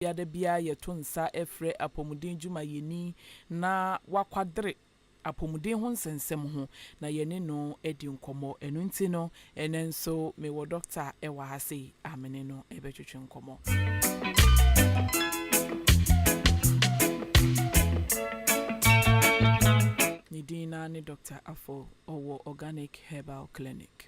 bia da biara yɛto nsa frɛ apɔmuden dwumayɛni na wakwadere apɔmuden ho nsɛnsɛm ho na yɛne no adi nkɔmmɔ. Ɛno nti no, ɛnnɛ nso mewɔ dɔkta wɔ ha sei a me ne no bɛtwetwe nkɔmmɔ. Ne din no ara ne Dɔkta Afful. Ɔwɔ Organic Herbal Clinic.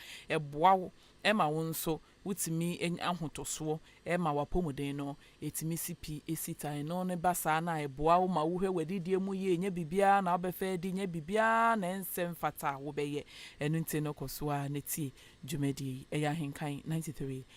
Ɛboa wo ma wo nso wotumi nya ahotɔsoɔ ma w'apɔmuden no. Ɛtumi si pi, ɛsi tan. Ɛno no ba saa no a, ɛboa wo ma wohwɛ w'adidie mu yie. Ɛnyɛ biribiara na wobɛfa adi, ɛnyɛ biribiara na ɛnsɛ mfata a wobɛyɛ. Ɛno nti no, kɔ so ara na tie dwumadie yi. Ɛyɛ Ahenkan ninety three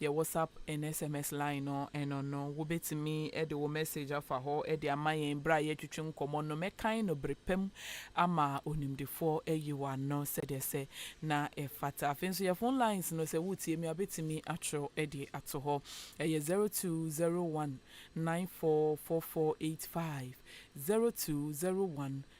Yɛ WhatsApp ne SMS line no ɛno no wobɛtumi de wo message afa hɔ de ama yɛn berɛ a yɛretwetwe nkɔmmɔ no. Mɛkan no bere pa mu ama Onimdefoɔ ayi wo ano sɛdeɛ sɛ na ɛfata. Afei nso yɛ phone lines no sɛ woretie me a wobɛtumi atwerɛ de ato hɔ. Ɛyɛ zero two zero one nine four four four eight five, zero two zero one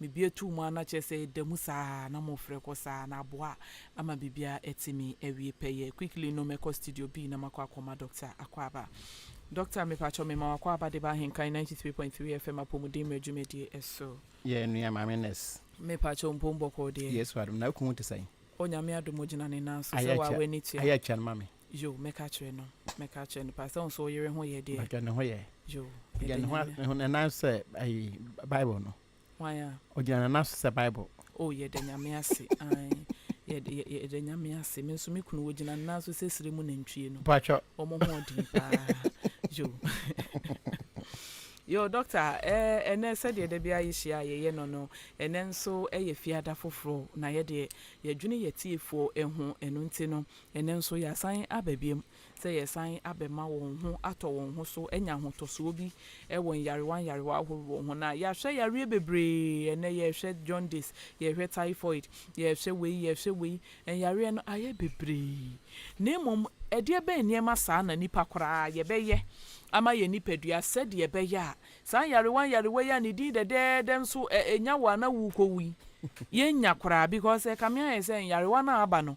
Mebue too mu a na kyerɛ sɛ ɛda mu saa ara na morefrɛ kɔ saa na aboa ama biribiara atumi awie pɛyɛ. Quickly no mɛkɔ studio B na makɔ akɔma Doctor Akwaaba. Doctor, mepakyɛw mema wo Akwaaba de ba Ahenkan ninety three point three FM Apɔmuden Mmerɛ dwumadie so. Yɛ nua Maame Nurse. Mepakyɛw mpom bɔkɔɔ deɛ? Yesu adom. Na wo kunu ho te sɛn? Onyame adom ogyina ne nan so. Sɛ wo a w'ani tua. Ayɛ atua no ma me. Yo, mɛka akyerɛ no, mɛka akyerɛ no paa sɛ wo nso wo yere ho yɛ deɛ. Mpakyɛ ne ho yɛ. Yo, Ɔgyina yɛda ne ho a- Nyame. ne ho ne nan so sɛ ayi Bible no. Hwan a? Ɔgyina ne nan so sɛ Bible. Oh, yɛda Nyame ase, ae, yɛda, yɛ, yɛda Nyame ase. Me nso me kunu, ɔgyina ne nan so sɛ serɛ mu nantwie no. Mpakyɛ. Wɔn ho ɔden paa. Yo. Yo, Doctor, eh, ɛnɛ sɛdeɛ da biara yɛhyia a yɛyɛ no no, ɛnɛ nso yɛ Fiada foforɔ, na yɛdeɛ, yɛdwene yɛatiefoɔ ho, ɛno nti no, Ɛnnɛ nso yɛasan aba biom sɛ yɛresan abɛma wɔn ho atɔ wɔn ho so, anya ahotɔsoɔ bi wɔ nyarewa nyarewa ahoroɔ ho. Na yɛahwɛ yareɛ bebree, ɛnnɛ yɛrehwɛ jaundice, yɛrehwɛ typhoid, yɛrehwɛ wei, yɛrehwɛ wei, nyareɛ no ayɛ bebree. Na mmom ɛdeɛ bɛn nneɛma saa na nnipa koraa yɛbɛyɛ ama yɛn nipadua sɛdeɛ ɛbɛyɛ a saa nyarewa nyarewa yi a ne din dɛdɛɛdɛ nso ɛnya wo a na worekɔwu yi yɛnnya koraa? Because ɛkame ayɛ sɛ nyarewa no a aba no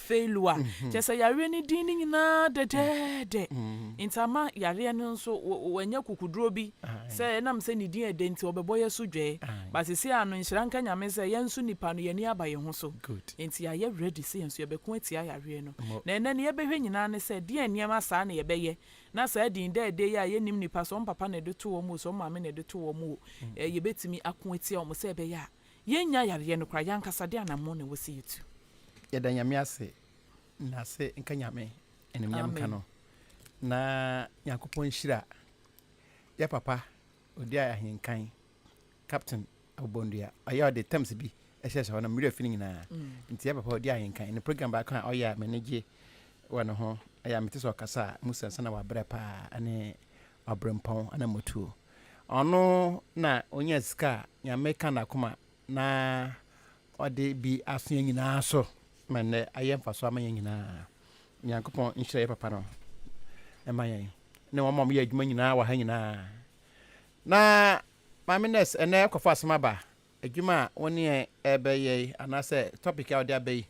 Failure kyerɛ sɛ yareɛ no din no nyinaa dɛdɛɛdɛ nti ama yareɛ no nso wanya kukuduro bi sɛ ɛnam sɛ ne din yɛ dɛ nti ɔbɛbɔ yɛ so dwɛɛ but sesei ano nhyira nka Nyame sɛ yɛn nso nipa no yɛn ani aba yɛn ho so nti yɛayɛ ready sɛ yɛn nso yɛbɛko atia yareɛ no na ɛnɛ no yɛbɛhwɛ nyinaa ne sɛ deɛn nneɛma saa na yɛbɛyɛ na saa din dɛɛdɛ yi a yɛnnim nipa sɛ wɔn papa na ɛde too wɔn o sɛ wɔn maame na ɛde too wɔn o yɛbɛtumi ako atia wɔn sɛ ɛbɛyɛ a Yɛnnya yareɛ no koraa. Yɛn ankasa deɛ anammɔn na ɛwɔ sɛ yɛtu. Yɛda Nyame ase na ase nka Nyame animuonyam nka no na Nyankopɔn nhyira yɛ papa odi ahenkan Captain Abobondua ɔyɛ ɔde terms bi ɛhyɛ sɛ hɔ no mmerɛ fi no nyinaa nti yɛ papa odi ahenkan ne program baako a ɔyɛ a m'ani gye wɔ ne ho ɛyɛ a mete sɛ ɔkasa a mu sɛ nsa na wabrɛ paa ɛne ɔbrempɔn ana motuo Ɔno na ɔnya sika a Nyame ka n'akoma na ɔde bi asoa nyinaa so ma nnɛ ayɛ mfaso ama yɛn nyinaa. Nyankopɔn nhyira yɛ papa no ɛma yɛn ne wɔn a wɔyɛ adwuma nyinaa wɔ ha nyinaa. Na Maame Nurse ɛnɛ ɛkɔfa asɛm aba adwuma a wɔn ne yɛn ɛbɛyɛ yi anaasɛ topic a ɔde aba yi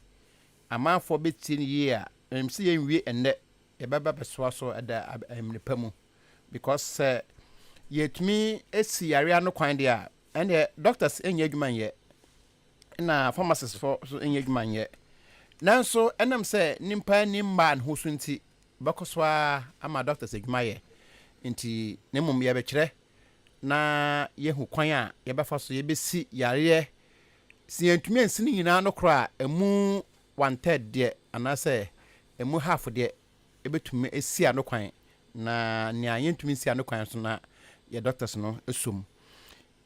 amanfoɔ bɛtie no yie a ɛmsi yɛn wie ɛnɛ yɛbɛba bɛsoa so ɛda ɛmene pa mu. because sɛ yɛtumi si yare ano kwan deɛ a ɛnneɛ doctors nyɛ adwuma nyɛ na pharmacist fo nso nyɛ adwuma nyɛ nanso ɛnam sɛ nipa ni mmaa ne ho so nti bɛkɔ so a ama doctors adwuma yɛ nti na mmom yɛbɛkyerɛ na yɛhu kwan a yɛbɛfa so yɛbɛsi yareɛ sɛ yɛntumi ansi no nyinaa no korɔ a ɛmu one third deɛ anaasɛ ɛmu half deɛ ebetumi esi ano kwan na nea yentumi nsi ano kwan nso na yɛ doctors no sɔ mu.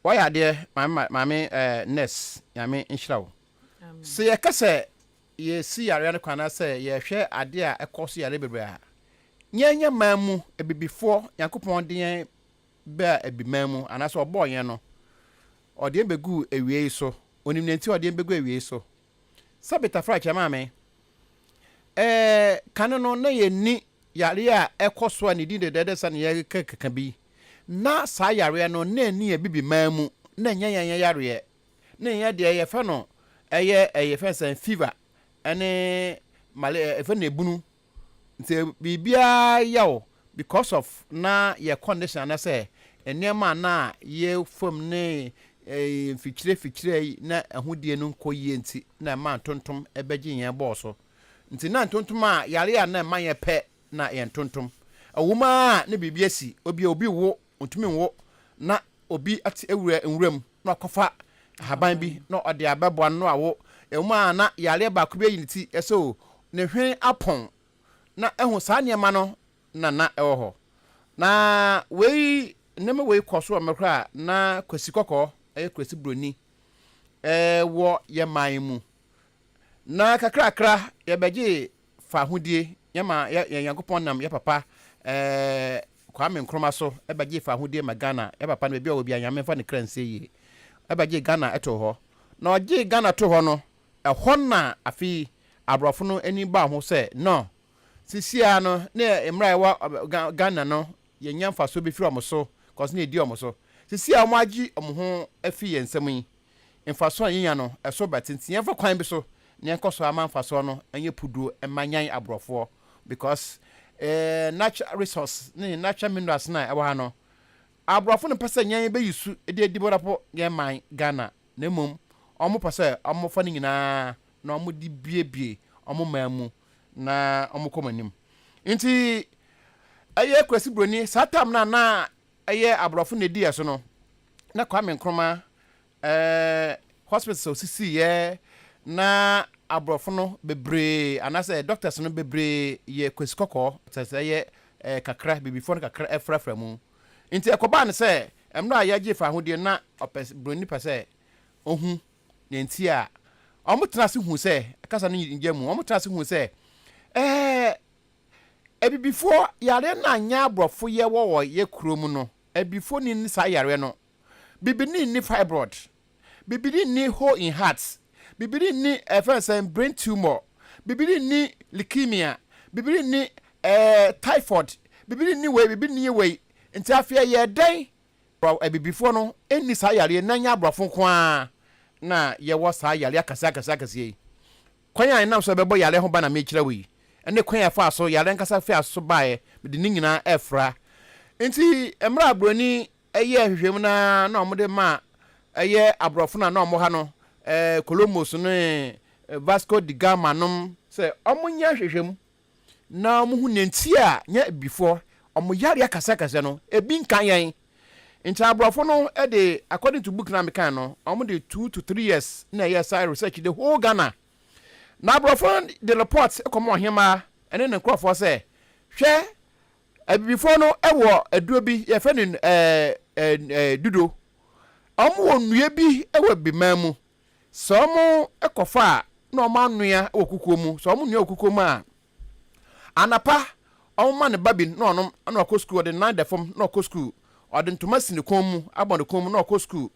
Wayɛ adeɛ maame maame eh, nurse nyame nhyira wo. Sɛ yɛka sɛ yɛsi yareɛ no kwan anaasɛ yɛhwɛ adeɛ a ɛkɔ so yareɛ bebree a, yɛnyɛ man mu abibifoɔ Nyankopɔn de yɛn baa abi man mu anaasɛ ɔbɔɔ yɛn no ɔde yɛn bɛguu awiei so, ɔnim nea nti ɔde yɛn bɛgu awiei so. Sɛ Betafra kyɛ maa me. Ɛɛ, kane no na yɛnni yareɛ a ɛkɔ so a ne din dɛdɛɛdɛ sɛdeɛ yɛreka keka bi. Ná saa yareɛ no, na ɛnni Abibiman mu, na ɛnyɛ yɛn yareɛ. Na yɛn deɛ, yɛfrɛ no, ɛyɛ, yɛfrɛ no sɛn, fever ne male, yɛfrɛ no ebunu Sɛ biribiara yɛ wo because of na yɛ condition anasɛ nneɛma a na yɛ fam ne mfikyire fikyire yi na ahodie no nkɔ yie nti na ɛma ntontom bɛgye yɛn bɔɔ so. Nti na ntontom a yare a na ɛma yɛ pɛ na yɛ ntontom. Ɛwom ara a na biribi asi obi a obi wo Ontumi nwo na obi ate awura nwura mu na wakɔfa ahaban bi na ɔde abɛboa no na wawo. Ɛwom ara na yareɛ baako bi ayi ne ti so, ne hwene apɔn, na ahu saa nneɛma no na na ɛwɔ hɔ. Na wei, nneɛma wei kɔɔ so wɔ mmerɛ korɔ a na Kwasi Kɔkɔɔ, ɛyɛ Kurasi Buroni, wɔ yɛn man mu. Na kakrakra yɛbɛgyee fahodie yɛ ma yɛ yɛ Nyankopɔn nam yɛ papa ɛɛ Kwame Nkrumah so ɛbɛgye fahodie ma Ghana yɛ papa no baabi a ɔwɔ bia Nyame nfa ne kra nsie yie ɛbɛgye Ghana ɛtoo hɔ na ɔgyee Ghana too hɔ no ɛhɔ na afei aborɔfo no ani baa ho sɛ no sisiaa no ne mmra ɛwɔ Ghana no yɛnya mfasoɔ bɛfiri ɔmo so kɔs na ɛdi ɔmo so sisiaa ɔmo agye ɔmo ho afiri yɛn nsam yi Mfaso a yenya no, ɛso bɛte nti yɛmfa kwan bi so na yɛnkɔ so ama mfaso no nyɛ puduro mma Nyan! aborɔfoɔ because eh natural resource ne natural minerals no a ɛwɔ ha no, aborɔfo no mpɛ sɛ yɛn bɛ use de adi boropo yɛn man Ghana na mmom wɔn pɛ sɛ wɔn fa no nyinaa na wɔn de bie bie wɔn man mu na wɔn kɔ wɔn anim. Nti ɛyɛ Kwesi Broni saa time no a na Ɛyɛ abrɔfo nnediɛ so no na Kwame Nkrumah hospitals a osisiiɛ na abrɔfo no bebree anaasɛ doctors no bebree yɛ Kwesi Kɔkɔɔ sɛsɛ ɛyɛ kakra bibifoɔ no kakra afrafra mu nti ɛkɔbaa no sɛ mmerɛ a yɛgye faahodie no na ɔpɛ broni pɛ sɛ ohu nea nti a wɔn tena ase hu sɛ kasa no ngya mu wɔn tena ase hu sɛ ɛɛ Abibifoɔ yareɛ no a nyɛ aborɔfo yɛ wɔ wɔ yɛ kuro mu no abibifoɔ nni nni saa yareɛ no bibini nni fibroid bibini nni hole in heart bibini nni ɛfɛn sɛn brain tumor bibini nni leukemia bibini nni ɛɛ typhoid bibini nni wei bibini nni wei nti afei ɛyɛ dɛn wɔ abibifoɔ no nni saa yareɛ na nyɛ aborɔfo nko ara na yɛ wɔ saa yareɛ akɛseɛ akɛseɛ akɛseɛ yi Kwan a ɛnam so a ɛbɛbɔ yare ho ban na merekyerɛ wo yi, ne kwan a ɛfaa so, yare ankasa fii ase so baeɛ, mede ne nyinaa refra. Enti mmerɛ a Buroni yɛɛ nhwehwɛmu no ara na wɔde maa ɛyɛ aborɔfo no a na wɔwɔ ha no, Columbus ne Vasco de Gama nom, sɛ wɔnyɛ nhwehwɛmu na wɔhu nea nti a yɛn Abibifo wɔn yare akɛsɛkɛsɛ no, ebi nka yɛn. Nti Aborɔfo no de, according to book no a mekae no, wɔde two to three years na ɛyɛɛ saa research yi, the whole Ghana. Na Aborɔfo no de report kɔma Ɔhemmaa ne ne nkurɔfoɔ sɛ, Hwɛ, Abibifo no wɔ aduro bi, yɛfrɛ no ɛɛ, ɛɛ, ɛɛ, dudo. Wɔwɔ nnua bi wɔ Abibiman mu. Sɛ wɔkɔfa a na wɔanoa wɔ kukuo mu. Sɛ wɔnoa wɔ kukuo mu a, anapa wɔma ne ba bi na ɔnom na wakɔ sukuu. Ɔde nan da fam na ɔkɔ sukuu. Ɔde ntoma si ne kɔn mu abɔ ne kɔn mu na ɔkɔ sukuu.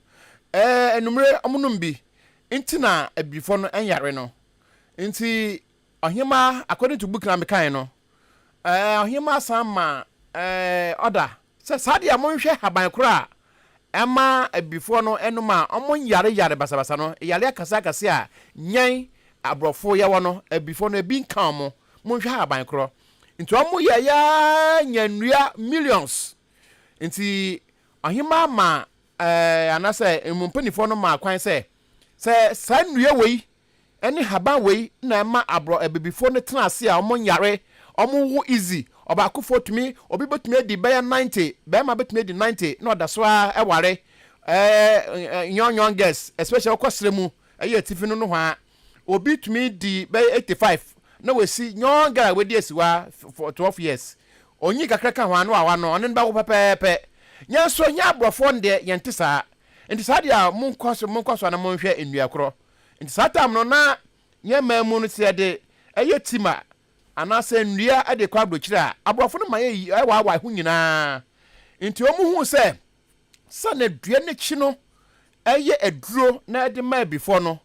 Ɛɛ anwummere wɔnom bi nti na Abirifo no nyare no. Nti ɔhemaa, according to book na mekae no, ɛɛ ɔhemaa san ma ɛɛ order Sɛ saa deɛ monhwɛ haban korɔ a ɛma abibifoɔ no nom a ɔmo nyare yare basabasa no, yare akɛseɛ akɛseɛ a nyɛn abrɔfo yɛwɔ no abibifoɔ no ebi nka ɔmo, monhwɛ haban korɔ nti ɔmo yɛ yɛ ara nya nnua millions nti ɔhemaa maa ɛɛ anasɛ mpanifoɔ no maa kwan sɛ sɛ saa nnua wei Ɛne haban wei na ɛma abrɔ abibifo no tena ase a wɔn nyare, wɔn wo easy, ɔbaakofo tumi, obi bɛtumi adi bɛyɛ ninety, bɛɛma bɛtumi adi ninety na ɔda so ara ɛware ɛɛ young young girls especially wokɔ serɛ mu ɛyɛ atifi no nohwaa obi tumi di bɛyɛ eighty five na wasi young girl a wadi asiwa for twelve years onyi kakra ka hwaa no awa no ɔne no bɛwo pɛpɛɛpɛ yɛn so yɛn abrɔfoɔ no deɛ yɛn te saa nti saa deɛ a monkɔ so monkɔ so ana monhwɛ nnua korɔ Nti saa tam no na yɛn man mu no sɛ yɛde yɛ tima anaasɛ nnua de kɔ abrokyire a aborɔfo no ma yɛ yi ɛwaawae ho nyinaa. Nti wɔn huu sɛ sɛnea dua no kyi no yɛ aduro na ɛde ma abifɔ no,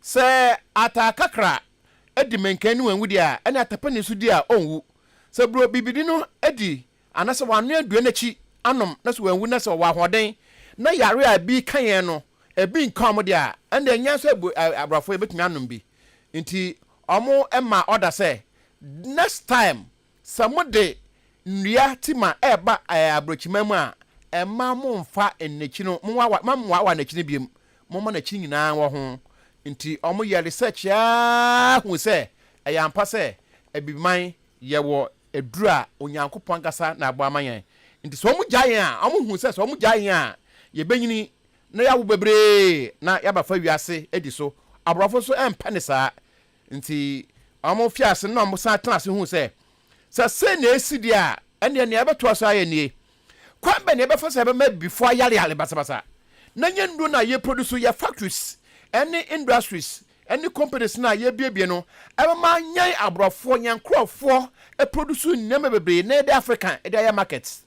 sɛ ataakakra di mankan ne wanwu deɛ a ɛne atapani nso di a ɔnwu. Sɛ buro bibini no di Ana sɛ wannoa aduan akyi anom na sɛ wanwu na sɛ ɔwɔ ahoɔden na yare a ɛbi ka yɛn no ɛbi nka wɔn deɛ a, ɛnna ɛnyɛ nso abu aborɔfo yɛbɛtumi anom bi. Nti wɔn ma ɔda sɛ next time sɛ mode nnua tima ɛreba aburokyiman mu a, ɛmma mo mfa nnakyi no mo wawa ma mo wawa nnakyi no biom, mo ma nnakyi nyinaa wɔ ho. Nti wɔn yɛ research ara hui sɛ ɛyɛ ampa sɛ abibiman yɛwɔ aduru a Onyankopɔn ankasa na abɔ ama yɛn. Enti sɛ wɔgyae yɛn a, wɔhu sɛ sɛ wɔgyae yɛn a, yebenyini na yɛawo bebree na yɛabɛfa wiase adi so. Aborɔfo nso mpɛ no saa. Enti wɔfii ase na wɔsan tenaa ase huu sɛ, sɛ sei na esi de a, ɛnneɛ nea ɛbɛtoa so ara yɛ nie. Kwan bɛn na yɛbɛfa so a yɛbɛma abibifo ayareyare basabasa na ɛnyɛ nnuro na yɛproduce? Yɛ factories ne industries ne companies no a yɛabuebue no bɛma yɛn aborɔfoɔ, yɛn nkurɔfoɔ produce nneɛma bebree na yɛde Africa de ayɛ market.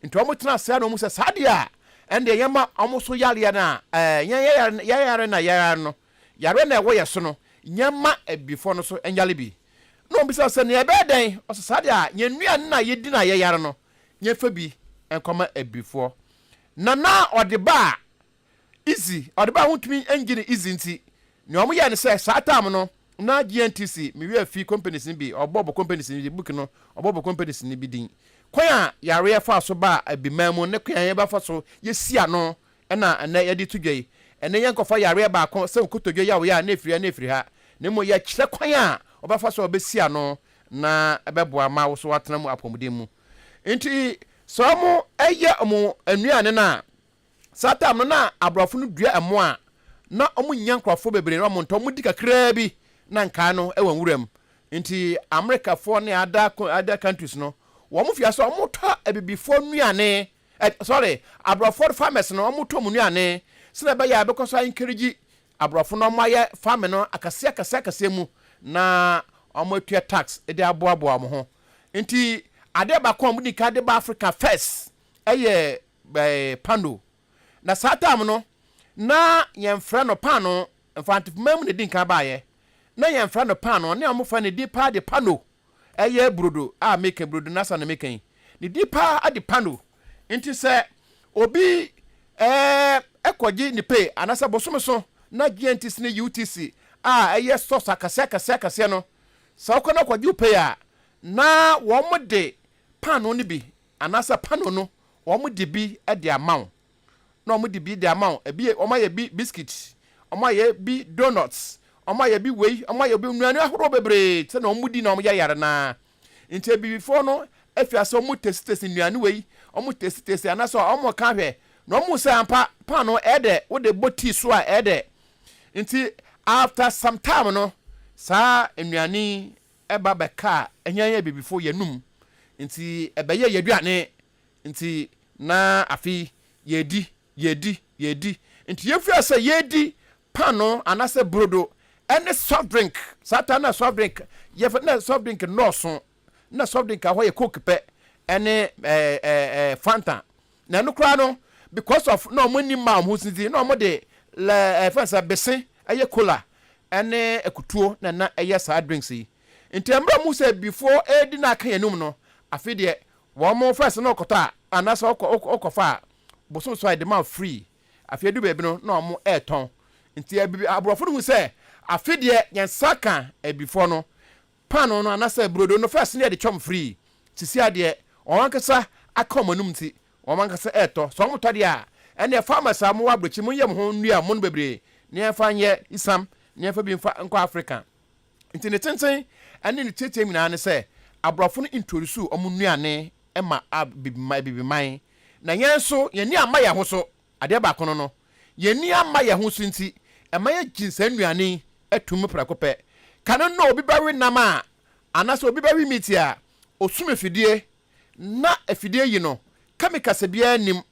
Nti wɔtena ase ara na wɔhu sɛ saa deɛ a ɛndeɛ yɛma wɔn so yareɛ no a yɛn yɛyare na yɛyare no, yareɛ na ɛwɔ yɛn so no, yɛmma abibifoɔ no so nyare bi. Na wɔbisa sɛ, na yɛbɛyɛ dɛn? Wɔse, saa deɛ a yɛn nnuane na yɛdi na yɛyare no, yɛn fɛ bi nkɔma abibifoɔ na na ɔde ba a easy ɔde ba a wontumi ngye no easy nti nea wɔn yɛ no sɛ saa time no na GNTC me wia fi companies no bi ɔbɔ ɔbɔ companies no bi book no ɔbɔ ɔbɔ companies no bi din kwan a yareɛ fa so ba abiman mu ne kwan a yɛbɛfa so yɛsi ano Ɛna ɛnnɛ yɛde reto dwa yi, ɛne yɛnkɔfa yareɛ baako sɛ nkotodwe yaw yɛ a na ɛfiri ha na ɛfiri ha, na mmom yɛkyerɛ kwan a wobɛfa so a wobɛsi ano na ɛbɛboa ma wo so woatena mu apɔmuden mu. Nti sɛ wɔyɛ wɔn nnuane no a, saa time no na aborɔfo no dua ɛmo a na wɔnnya nkurɔfoɔ bebree na wɔntɔ, wɔdi kakraa bi na nkae no wɔ nwura mu. Nti Americafoɔ ne other other countries no wɔn mfiase wɔtɔ abibifoɔ nnuane Ɛ, sorry, aborɔfo farmers no, wɔn tɔ wɔn nnuane, sɛdeɛ ɛbɛyɛ a yɛbɛkɔ so a encourage aborɔfo na wɔn ayɛ farming no akɛseɛ akɛseɛ akɛseɛ mu na wɔn atua tax de aboaboa wɔn ho. Nti adeɛ baako a wɔn di kan de ba Africa first ɛyɛ ɛɛ pano. Na saa time no na yɛn frɛ no paano, Mfantefoman mu na edi kan baayɛ, na yɛn frɛ no paano, ne wɔn frɛ no din paa de pano. Ɛyɛ brodo a meka yi, brodo nasa na meka yi. Ne di paa ade pa no. Nti sɛ obi ɛɛ kɔ gye ne pay anasɛ bosome so na GNTC ne UTC a ɛyɛ stores akɛseɛ akɛseɛ akɛseɛ no, sɛ wokɔ na wokɔ gye wo pay a, na wɔn de paanoo no bi anasɛ pano no wɔn de bi de ama wo. na wɔn de bi de ama wo ebi wɔn ayɛ bi biscuit wɔn ayɛ bi donuts wɔn ayɛ bi wei wɔn ayɛ bi nnuane ahorow bebree sɛ na wɔn di na wɔn yɛ yare naa nti abibifoɔ no afi ase wɔn tesi tesi nnuane wei wɔn tesi tesi anasɛ wɔn ka hwɛ na wɔn sɛ ampa paano ɛdɛ wo de bɔ tii so a ɛdɛ nti after some time no saa nnuane ɛba bɛka ɛnyɛ yɛ abibifoɔ yɛnum nti ɛbɛyɛ yɛ aduane Nti na afei yɛredi, yɛredi, yɛredi. Nti yɛfiri ase yɛredi paanoo anaasɛ burodo ne soft drink. Saa taa na soft drink yɛfɛ na soft drink nnɔɔso. Na soft drink ahɔ yɛ coke pɛ ne ɛɛ ɛɛ fanta. Na ɛno koraa no because of na wɔn ani mma wɔn ho sinti na wɔn de lɛ ɛfɛn sɛ bese ɛyɛ cola ne akutuo na ɛna ɛyɛ saa drinks yi. Nti mmerɛ mu sɛ before ɛredi na aka yɛn anum no afei deɛ Wɔn mo first na ɔkɔtɔ a anaasɛ ɔkɔfa a bosom so a yɛde ma wo free afei edu baabi no na wɔn ɛretɔn nti aborɔfo no hu sɛ afe deɛ yɛn nsa ka abibifoɔ no paano no anaasɛ brodo no first na yɛde kyɛ wɔn free sisi adeɛ wɔn ankasa aka wɔn anum nti wɔn ankasa ɛretɔ sɛ wɔn tɔ deɛ a ɛnneɛ farmers a wɔn wɔ abrɛkyi mo nyɛ mo ho nnua mo no bebree na yɛn fa nyɛ isam na yɛn fa bi nfa nkɔ Africa. Nti ne tenten ne ne teɛteɛm nyinaa ne sɛ aborɔfo no introduce wɔn nnuane ma abibiman abibiman na yɛn nso yɛn ani amma yɛn ho so. Adeɛ baako no no, yɛn ani amma yɛn ho so nti ɛma yɛgye saa nnuane yi tom prɛko pɛ. Kane no obi bɛwe nam a anaasɛ obi bɛwe meat a, ɔsum afidie na afidie yi no kɛmi kasa biara nnim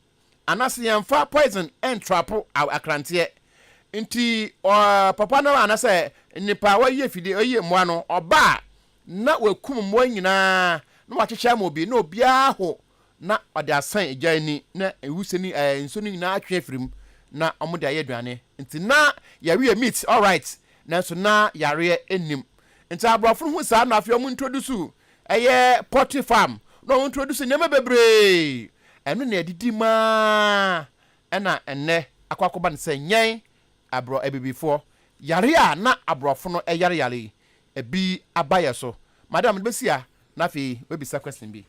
Anase yɛnfa poison ntrapo akranteɛ nti papa no anasɛ nipa wɔyɛ fidie wɔyɛ mmoa no ɔba a na wakum mmoa nyinaa na wakyekyɛ ama obi na obiara aho na ɔde asɛn egya ani na ewusie ne ɛɛ nsuo no nyinaa atwe afiri mu na wɔn de ayɛ aduane nti na yɛweyɛ meat alright nanso na yareɛ nnim nti aborɔfo no hu saa na afei wɔn introduce Ɛyɛ poultry farm na ɔmo introduce nneɛma bebree. Ɛno na ɛdidi mu aa ɛna ɛnnɛ akɔ akɔba no sɛ nyɛn abrɔ abibifoɔ yare a na abrɔfo no ɛyare yare yi ɛbi aba yɛ so. Madam mede bɛsi ha na afei w'abisa question bi.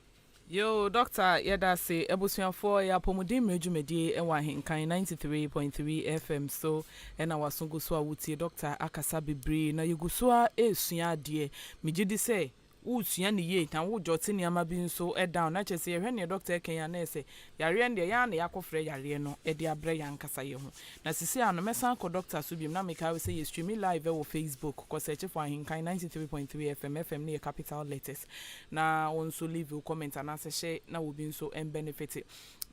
Yoo Doctor yɛda ase. Abusuafoɔ yɛ apɔmuden mmerɛ dwumadie wɔ ahenkan ninety three point three FM so Ɛna waso gu so a wotie dɔkta akasa bebree na yɛgu so ara ɛresua adeɛ. Megye di sɛ woresua no yie na wojot nneɛma bi nso down na kyerɛ sɛ yɛhwɛ neɛ dɔkta ɛka yi a na ɛyɛ sɛ yareɛ no deɛ yɛn ara na yɛakɔfrɛ yareɛ no de abrɛ yɛn ankasa yɛn ho. Na seesei ara no mɛsan akɔ dɔkta so biom na mekae wo sɛ yɛ streami live wɔ facebook kɔ search for Ahenkan ninety three point three FM, FM no yɛ capital letters, na wo nso leave wo comment anaasɛ hyɛ na obi nso mbɛnefete.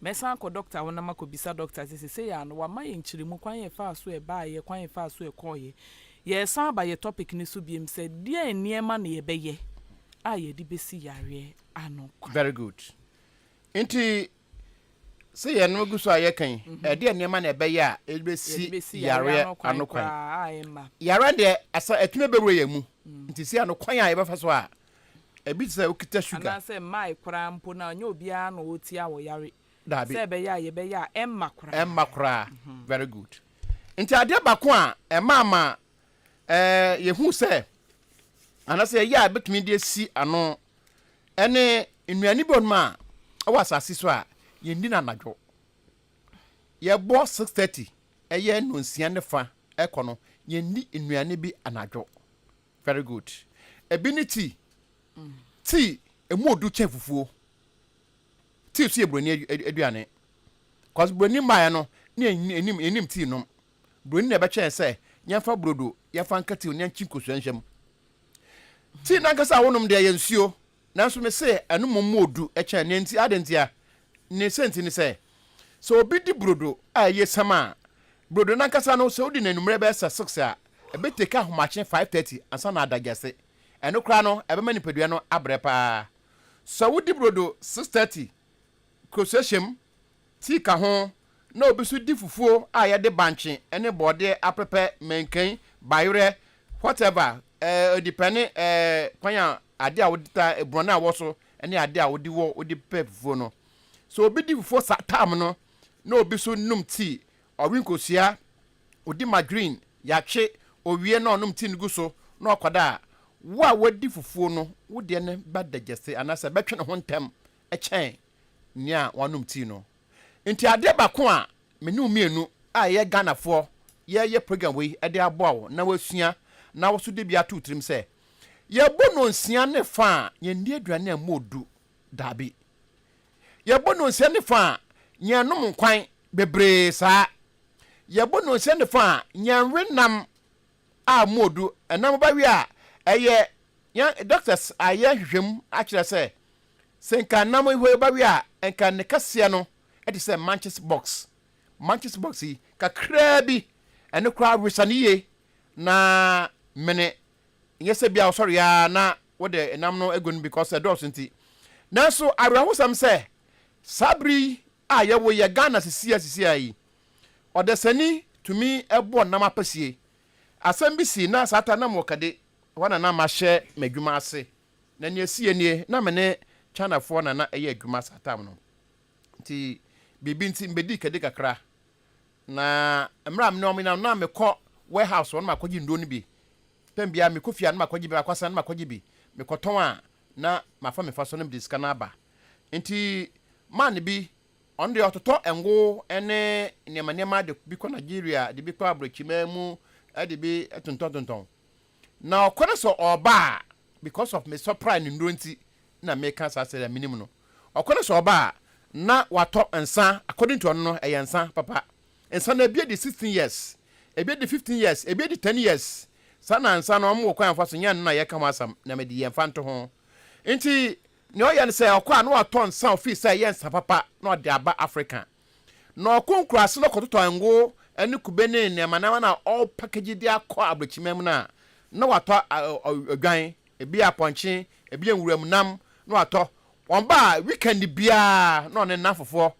Mɛsan akɔ dɔkta hɔ na makɔbisa dɔkta sɛ seesei ara no wama yɛn nkyerɛmu kwan a ɛfaa so ɛbaeɛ, kwan a ɛfaa so ɛkɔeɛ. Yɛresan aba yɛn topic no so biom sɛ deɛn nneɛma na yɛbɛyɛ a yɛde bɛsi yareɛ ano kwan. Very good. Nti sɛ yɛn no gu so a yɛka yi, ɛdeɛn nneɛma na ɛbɛyɛ a yɛde bɛsi yareɛ ano kwan? Yareɛ deɛ asa atumi abɛwura yɛn mu, nti si ano kwan a yɛbɛfa so a Ebi te sɛ wokita sugar. Anaasɛ mmae koraa mpo na ɛnyɛ obiara na ɔretia wo yare. Daabi. Sɛ ɛbɛyɛ a yɛbɛyɛ a ɛmma koraa. Ɛmma koraa. Very good. Nti adeɛ baako a ɛmaa ma ɛɛ yɛhu sɛ anaasɛ yɛyɛ a ɛbɛtumi de asi ano ɛne nnuane bi wɔ nom a ɛwɔ asase so a yɛndi no anadwo. Yɛbɔ six thirty ɛyɛ nnɔnsia ne fa ɛkɔ no yɛndi nnuane bi anadwo. Very good. Ɛbi ne tea. Tea, ɛmu ɔdu kyɛn fufuo. Tea nso yɛ buroni aduane. Cause buroni mmaeɛ no, ne ɛnim, ɛnim tea nom. Buroni na ɛbɛkyɛn sɛ, yɛmfa brodo, yɛmfa nka tea, yɛnkye nkosua nhyɛ mu. Tea nankasa a wonom deɛ yɛ nsuo. Nanso mise ɛno mmom mu odu kyɛn nea enti. Adɛn ntia? Ne sɛnti ne sɛ, sɛ obi di brodo a ɛyɛ siam a, brodo no ankasa no, sɛ odi no anwummere bɛyɛ sɛ six a, ɛbɛtake ahomakye five thirty ansa na adagyaase. Ɛno koraa no, ɛbɛma nipadua no abrɛ paa. Sɛ wodi brodo six thirty, kurosuahyɛm, tii ka ho, na obi nso di fufuo a yɛde bankye ne bɔɔdeɛ apɛpɛ, mankan, bayerɛ, whatever, ɛɛ depɛne ɛɛ kwan a adeɛ a wode ta borɔn a ɛwɔ so ne adeɛ a wode wɔ wode pɛ fufuo no. So obi di fufuo sa tam no na obi nso nom tii, ɔwe nkosua, odi margarine, yɛatwe, owie na ɔnom tii no gu so na ɔkɔda a, wo a wadi fufuo no wo deɛ no bɛdagyase anaasɛ ɛbɛtwe ne ho ntɛm kyɛn nea wɔanom tii no. Enti adeɛ baako a me ne wo mmienu a yɛyɛ Ghanafoɔ yɛreyɛ program wei de aboa wo na woasua na wo nso de bi ato wo tirim sɛ, yɛbɔ nnɔnsia ne fã a yɛnni aduane a ɛmmɔɔ du? Dabi. Yɛbɔ nnɔnsia ne fã a yɛnnom nkwan bebree saa. Yɛbɔ nnɔnsia ne fã a yɛnwe nam a modu na moba wie a, ɛyɛ yɛn doctors ayɛ nhwehwɛmu akyerɛ sɛ, sɛ nka nam yi hɔ ba wie a, nka ne kɛseɛ no te sɛ manches box, manches box yi kakraa bi, ɛno koraa wesa no yie na mene, nyɛ sɛ bia ɔsɔre a na wode nam no agu no because ɛdɔɔso nti. Nanso awerɛhosɛm sɛ, saa bere yi A yɛwo yɛ Ghana sisia sisia yi ɔdasani tumi bɔ nam apasie asɛm bi sii na saa ta na mewɔ kade hɔ na na mahyɛ madwuma ase na nea ɛsiiɛ nie na me ne China foɔ na na ɛyɛ adwuma saa tam no nti biribi nti mebɛdii kade kakra na mmerɛ a me ne wɔn nam na mekɔ warehouse hɔ na makɔgye nnuro no bi tam biara mekɔ fie a na makɔgye bi makɔ asan na makɔgye bi mekɔtɔn a na mafa me fa so na mede sika no aba. Enti man bi, ɔno deɛ ɔtotɔ ngo ne nneɛma nneɛma de bi kɔ Nigeria, de bi kɔ aborɔkyimaa mu, de bi tontɔntontɔn. Na ɔkɔ no sɛ ɔreba a, because of me supply ne nnuro nti na meka saa sɛdeɛ menim no. Ɔkɔ no sɛ ɔreba a, na watɔ nsa, according to ɔno no, ɛyɛ nsa papa. Nsa no ebi adi sixteen years, ebi adi fifteen years, ebi adi ten years. Saa na nsa no wɔn wɔ kwan a wɔfa so nya no na yɛka ho asɛm na mede yɛn mfa nto ho. Nti nea ɔyɛ no sɛ ɔkɔ a na watɔ nsa a ofii sɛ ɛyɛ nsa papa na ɔde aba Afrika. Na ɔkɔ nkuraase na ɔkɔtotɔ ngo ne kube ne nneɛma nneɛma na ɔrepackage de akɔ abrɛkyimma mu no a na watɔ odwan, ebi yɛ apɔnkye, ebi yɛ nwuram nam na watɔ. Wɔn ba a weekend biara na ɔne nnamfofoɔ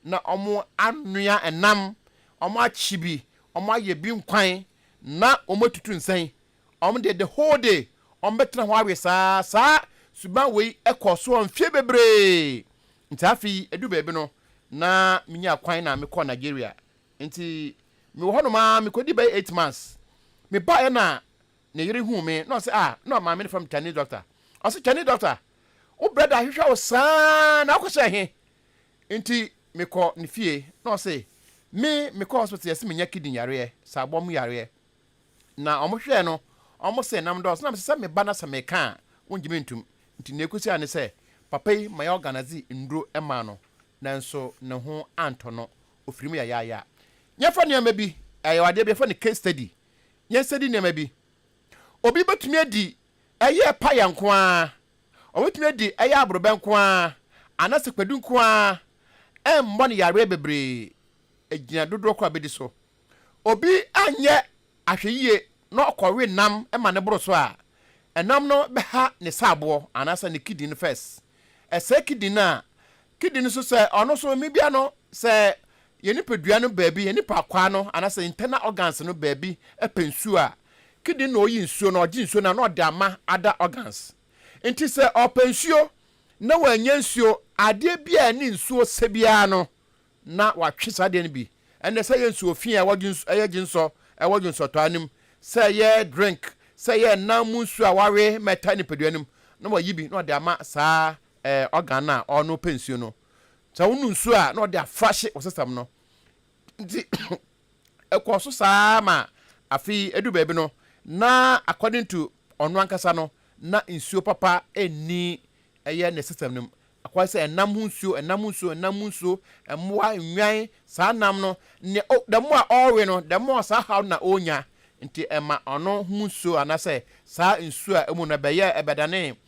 na wɔanoa nam, wɔakye bi, wɔayɛ bi nkwan, na wɔatutu nsɛn. Wɔn deɛ, the whole day, wɔbɛtena hɔ awe saa. Saa suban wei kɔɔ so mfeɛ bebree. Nti afei, ɛduru baabi no, na menyaa kwan na mekɔɔ Nigeria. Nti mewɔ hɔnom ara, mekɔdii bɛyɛ eight months. Mebaeɛ na Ne yere huu me na ɔse ah na maame no frɛ me Chinese doctor ɔse Chinese doctor wo brɛda ahwehwɛ wo saa na wokɔ hyɛɛ he nti me kɔ ne fie na ɔse me me kɔ hospital yɛse me nya kidney yareɛ saabɔ mu yareɛ na ɔmo hwɛɛ no ɔmo se nam dɔɔso na me se sɛ me ba na sɛ me ka a wo ngye me ntum nti nea ekosi a ne sɛ papa yi ma yɛ organize nduro maa no nanso ne ho antɔ no ofiri mu yayaaya nyɛ fa nneɛma bi ɛyɛ adeɛ bi yɛfrɛ no case study. yɛn sɛdi nneɛma bi. Obi bɛtumi adi ɛyɛ paya nko ara, ɔbɛtumi adi ɛyɛ aborɔbɛ nko ara, anaasɛ kwadu nko ara, ɛmmɔ no yareɛ bebree, ɛgyina dodoɔ korɔ a ɔbɛdi so. Obi anyɛ ahwɛyie na ɔkɔwe nam ma no boro so a, ɛnam no bɛha ne saaboɔ anaasɛ ne kidney no first. Ɛsɛe kidney no a, Kidi no so sɛ ɔno so mmebia no sɛ yɛn nipadua no baabi, yɛn nipa akwaa no anaasɛ internal organs no baabi pɛ nsuo a, kidi no na ɔyi nsuo no, ɔgye nsuo no na ɔde ama other organs. Nti sɛ ɔpɛ nsuo na wannya nsuo, adeɛ bi a ɛne nsuo sɛ biara no na watwe saa adeɛ no bi. Ɛnɛ sɛ ɛyɛ nsuo fii a wɔgye nsu, ɛyɛ gye nsɔ, ɛwɔ gye nsɔtɔa no mu, sɛ ɛyɛ drink, sɛ ɛyɛ nam mu nsuo a wɔawe ma ɛtaa nipadua no mu, na wayi bi na ɔde ama saa ɛɛ ɔgan no a ɔno ɔpɛ nsuo no sɛ wonom nsuo a na ɔde afrahye ɔsesɛm no nti ɛkɔɔ so saa ma afei ɛdu baabi no na according to ɔno ankasa no na nsuo papa ɛnni ɛyɛ ne sesɛm no mu akɔyɛ sɛ ɛnam ho nsuo ɛnam ho nsuo ɛnam ho nsuo mmoa nnwan saa nam no ne o the more a ɔrewe no the more saa haw na ɔnya nti ɛma ɔno ho nsuo anasɛ saa nsuo a ɛmu no ɛbɛyɛ ɛbɛdane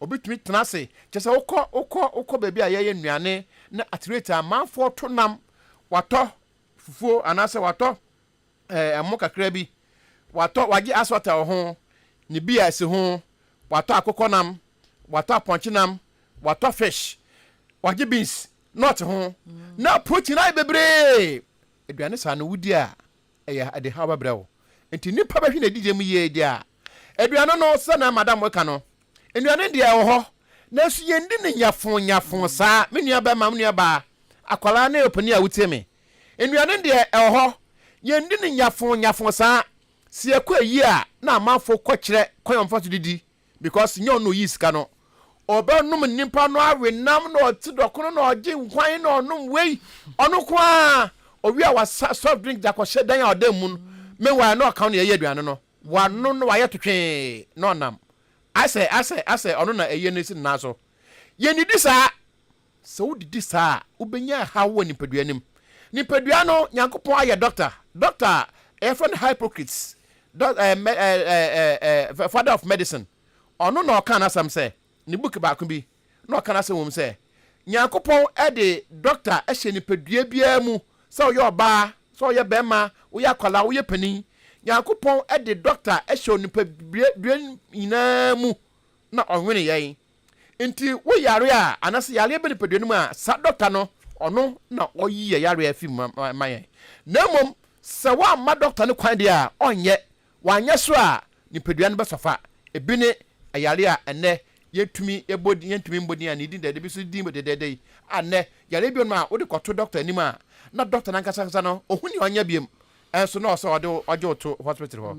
Obetumi tena ase, kyerɛ sɛ wokɔ wokɔ wokɔ baabi a yɛyɛ nnuane na aterate a amanfoɔ to nam, watɔ fufuo anaasɛ watɔ ɛɛ ɛmo kakra bi, watɔ wagye asɔta wɔ ho, ne beer esi ho, watɔ akokɔ nam, watɔ apɔnkye nam, watɔ fish, wagye beans, nut ho, na protein ayɛ bebree. Aduane saa no wodi a, Ɛyɛ ade haw bɛbrɛ wo. Enti nnipa bɛhwe na adidie mu yie deɛ a, aduane no sɛ na madam reka no, nnuane deɛ ɛwɔ hɔ, nanso yɛndi no nyafoo nyafoo saa, me nua barima, me nua baa, akwadaa ne ɔpanin a wotie me. Nnuane deɛ ɛwɔ hɔ, yɛndi no nyafoo nyafoo saa. Sɛ yɛkɔ ayie a, na amanfoɔ kɔkyerɛ kwan a wɔfa so didi. Because nyɛ ɔno na oyii sika no. Ɔbɛnom nnipa no awe nam na ɔte dɔko no na ɔgye nkwan na ɔnom wei. Ɔno nko ara. Ɔwie a wasa soft drink de akɔhyɛ dan a ɔda mu no. Meanwhile na ɔka no na yɛyɛ aduane no. Wano na wayɛ totwee na ɔnam. Asɛ, asɛ, asɛ ɔno na ɛyɛ no si ne nan so. Yɛnnidi saa. Sɛ wodidi saa a, wobɛnya ɛhaw wɔ nipadua no mu. Nipadua no, Nyankopɔn ayɛ dɔkta. Dɔkta a, yɛfrɛ no Hippocrates, dɔ, ɛɛ, mɛ, ɛɛ, ɛɛ, ɛɛ, father of medicine. Ɔno na ɔkaa n'asɛm sɛ, ne book baako bi, na ɔka n'asɛm wɔ mu sɛ, Nyankopɔn de dɔkta hyɛ nipadua biara mu, sɛ woyɛ ɔbaa, sɛ woyɛ bɛrima, woyɛ akwadaa, woyɛ panin. Nyankopɔn de dɔkta hyɛ onipadua nyinaa mu, na ɔnwene yɛn. Nti wo yare a anase yareɛ bɛ nipadua no mu a saa dɔkta no ɔno na ɔyi yɛ yareɛ fi mu ma yɛn na mmom sɛ woamma dɔkta no kwan deɛ a ɔnyɛ, wanyɛ so a nipadua no bɛsɔfa. Ebi ne ayare a ɛnnɛ yɛntumi yɛbɔ din yɛntumi mmɔ din a ne din dɛdɛ bi so din dɛdɛɛdɛ yi a nnɛ yareɛ bi wɔ nom a wode kɔto dɔkta anim a na dɔkta no ankasa ankasa no ɔhu nea ɔnyɛ biom Nso na ɔsɛ ɔde wo ɔgye wo to hospital hɔ.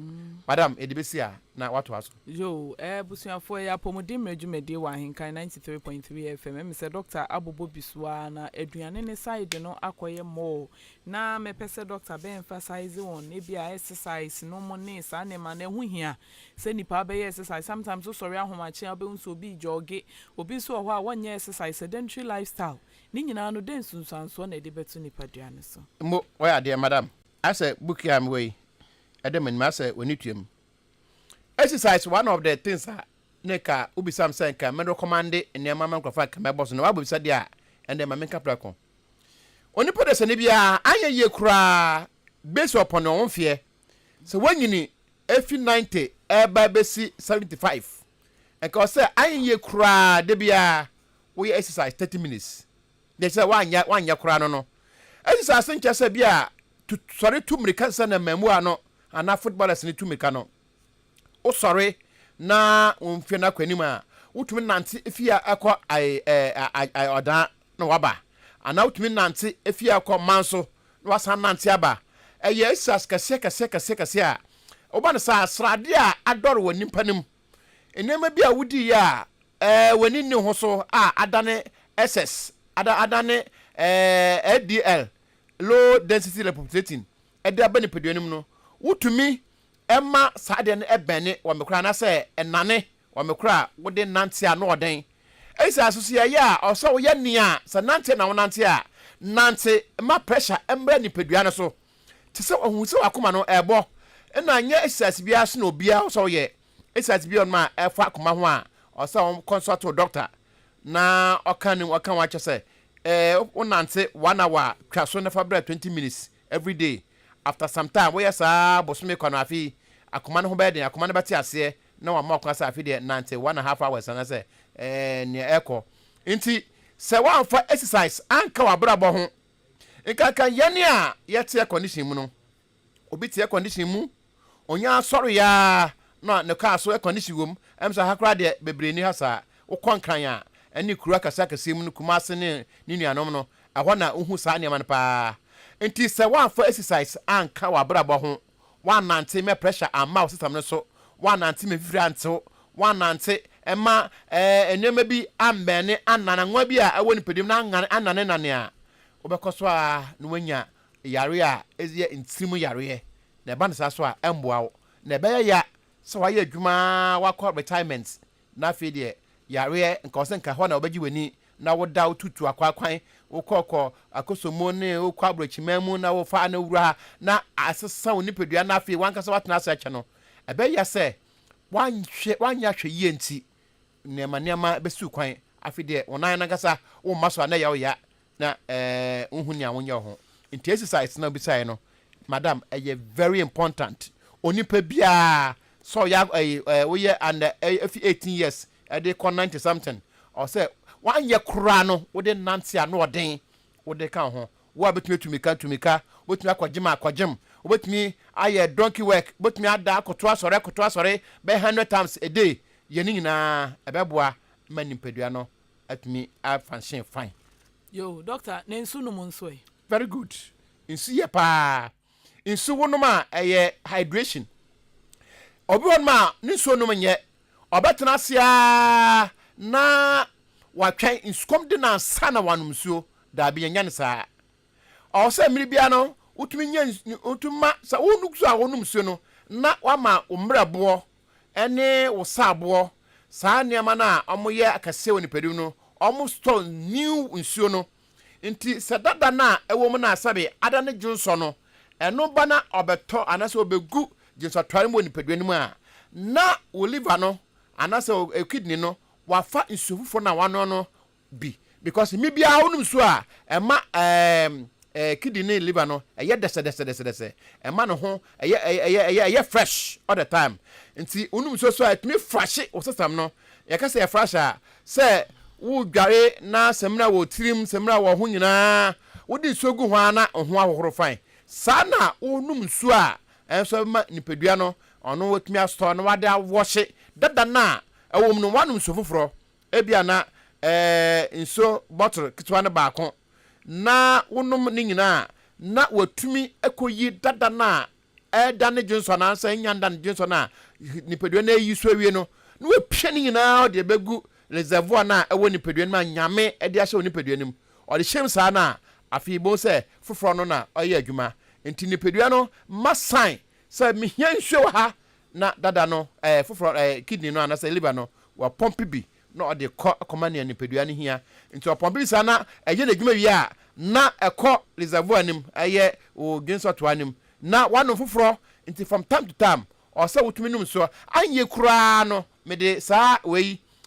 Madam, yɛde bɛsi a na woatoa so. Yoo eh abusuafoɔ ɛyɛ apɔmuden mmerɛ dwumadie wɔ ahenkan ninety three point three FM ɛmi sɛ doctor abobɔ bi so aa na aduane ne side no akɔyɛ more na mɛ pɛ sɛ doctor bɛ emphasize on ebi a exercise no mo ne saa nneɛma no ɛho hia sɛ nipa abɛyɛ exercise sometimes wo sɔre ahomakye a wobɛhu sɛ obi jogge obi nso wɔ hɔ a wɔnyɛ exercise sedentary lifestyle Ne nyinaa no, dɛn nsunsuansoɔ na ɛde bɛto nipadua no so? Mo, woayɛ adeɛ, madam. Asɛ book yi a mewɔ yi, ɛda m'anim, asɛ w'ani tuam. Exercise one of the things a na ɛka wobisam sɛ nka me recommende nneɛma ama nkurɔfoɔ a nka mɛbɔ so no, woabɔ bisadeɛ a, ɛnde ma menka prɛko. Onipa dasani biara anyɛ yie koraa based upon ne wo mfeɛ, sɛ woanyini afi ninety ɛreba abɛsi seventy five, Nka ɔsɛ anyɛ koraa da biara woyɛ exercise thirty minutes deɛ kyerɛ wanyɛ wanyɛ koraa no no exercise nkyɛ sɛ bi a tu sɔre tu mmirika sɛ na mmaamua no anaa footballers no tu mmirika no wosɔre na wɔn mfie no akɔ anim a wotumi nante fie a ɛkɔ ae ɛɛ ae ɔdan na waba, anaa wotumi nante fi ha kɔ man so na wasan nante aba. Ɛyɛ asias kɛseɛ kɛseɛ kɛseɛ kɛseɛ a woba no saa, sradeɛ a adɔre wɔ nnipa no mu, nneɛma bi a wodiiɛ a ɛɛ w'ani nni ho so a adane SS, ada adane ɛɛ LDL, low density lipoprotein, de aba nipadua no mu no, wotumi ma saa adeɛ no bɛne wɔn koraa anaasɛ ɛnane Wɔ me koro a wode nante a, na ɔdɛn? Ɛsiane so sɛ yɛyɛ a, ɔsɛ sɛ woyɛ nea sɛ nante na wonante a, nante ma pressure mmra nipadua no so. Te sɛ ɔhu sɛ w'akoma no ɛrebɔ, ɛna nyɛ exercise biara so na obiara wɔ sɛ ɔyɛ. Exercise bi wɔ nom a ɛfa akoma ho a, ɔsɛ sɛ wo consult wo dɔkta na ɔka ne ɔka ho akyɛ sɛ eh, wo nante one hour a, twa so na fa bra twenty minutes every day. After some time, woyɛ saa bosome kwa no, afei akoma no ho bɛyɛ den, akoma no bɛte aseɛ, na wama wo kwan sɛ afei deɛ nante one and half hours anaasɛ ɛɛ nea ɛkɔ. Nti sɛ woamfa exercise anka w'abrabɔ ho, nkanka yɛn a yɛte air condition mu no. Obi te air condition mu, onya ara sɔre yɛ ara na ne kaa so air condition wom, ɛm sɛ ha koraa deɛ bebree nni ha saa. Wokɔ Nkran a, ɛne kuro akɛseɛ akɛseɛ mu no, Kumase ne ne nuanom no, ɛhɔ na wohu saa nneɛma no pa ara. Nti sɛ woamfa exercise anka w'abrabɔ ho Woannante mma pressure amma wo system no so, woannante ma mfifire antew, woannante mma ɛɛ nneɛma bi ammɛɛne anaa nanoa bi a ɛwɔ nipadua mu no angan annanennane a, wobɛkɔ so ara na woanya yareɛ a ɛyɛ ntirim yareɛ. Na ɛba no saa so a, ɛmmoa wo. Na ɛbɛyɛ ya sɛ woayɛ adwuma ara, woakɔ retirement, na afei deɛ yareɛ nka wo sɛ nka ɛhɔ na wobɛgye w'ani na woda wo tutu akwaakwan, wokɔ kɔ akoso mu ne wokɔ aborɔkyiman mu na wofa ano wura na asesa wo nipadua na afei w'ankasa woatena ase akyɛ no, ɛbɛyɛ sɛ woanhwɛ, woanyɛ ahwɛyie nti nneɛma nneɛma bɛsiw kwan. Afei deɛ wo nan no ankasa womma so a na ɛyɛ wo ya na ɛɛ wonhu nea wonyɛ wo ho. Nti esi saa esi na wobisaeɛ no, madam, ɛyɛ very important onipa biara sɛ ɔyɛ ɛyi ɛɛ woyɛ under ɛyi efi eighteen years Ɛde kɔ ninety something ɔsɛ wanyɛ koraa no wode nante ano ɔden wode ka wo ho wo a bɛtumi atu mika tu mika wobɛtumi akɔ gyem akɔ gyem wobɛtumi ayɛ donkey work wobɛtumi ada akoto asɔre akoto asɔre bɛyɛ hundred times a day yɛ ne nyinaa ɛbɛboa ma nipadua no atumi a function fine. Yoo, doctor na nsu nom nso ɛ? Very good, nsu yɛ paa. nsu wonom a ɛyɛ hydration obi wɔ nom a ne nsuo nom nyɛ ɔbɛtena ase ara na watwɛn nsukɔm de na ansa na wanom nsuo daabi yɛnyɛ no saa ɔwɔ sɛ mmiri biara no wotumi nyɛ wotumi ma sɛ wonum so a wonom nsuo no na wama wo mmerɛboɔ ne wo saaboɔ saa nneɛma no a wɔyɛ akɛseɛ wɔ nipadum no wɔn store new nsuo no Ntsi sɛ dada no a ewɔ mu no asɛbe ada no dwonsɔ no, ɛno ba na ɔbɛtɔ anaasɛ obegu dwonsɔtoare mu wɔ nipadua no mu a, na wo liver no anaasɛ wo kidney no wɔafa nsu fofor no a wɔanoa no bi. Because mber biara a wonom nsu a, ɛma kidney ne liver no yɛ dɛsɛdɛsɛdɛsɛdɛsɛ, ɛma no ho yɛ yɛ yɛ fresh all the time. Ntsi wonom nsuo so a, etumi frahye wo sesɛm no. Yɛka sɛ yɛfrahye a, Sɛ wodware na samina wɔ wo tirim, samina wɔ wo ho nyinaa, wode nsuo gu ho ara na wo ho ahohoro fann. Saa ara na wonom nsuo a ɛnso ɛbɛma nipadua no ɔno watumi asɔ na wade awɔhye dada no a ɛwɔ mu no, woanom nsuo foforɔ. Ebia na ɛɛ nsuo bottle ketewa no baako na wonom ne nyinaa a, na watumi akɔyi dada no a ɛreda ne dwonsɔ anaasɛ ɛnnya nda ne dwonsɔ no a, nipadua no ayi so awie no, na wapia ne nyinaa ɔde abɛgu reservoir no a ɛwɔ nipadua no mu a Nyame de ahyɛ wo nipadua no mu. Ɔde hyem saa no a, afei bohu sɛ foforɔ no na ɔyɛ adwuma. Nti nipadua no ma sign sɛ mehia nsuo wɔ ha, na dada no, ɛɛ foforɔ, ɛɛ kidney no anaasɛ liver no, wapɔmpe bi na ɔde kɔ kɔma nea nipadua no hia. Nti ɔpɔn biribi saa na ɛyɛ n'adwuma wie a, na ɛkɔ reservoir no mu, ɛyɛ wo dwene sɛ ɔtoa no mu, na woanom foforɔ. Nti from time to time, ɔwɔ sɛ wotumi nom nsuo. Anyɛ koraa no, mede saa wei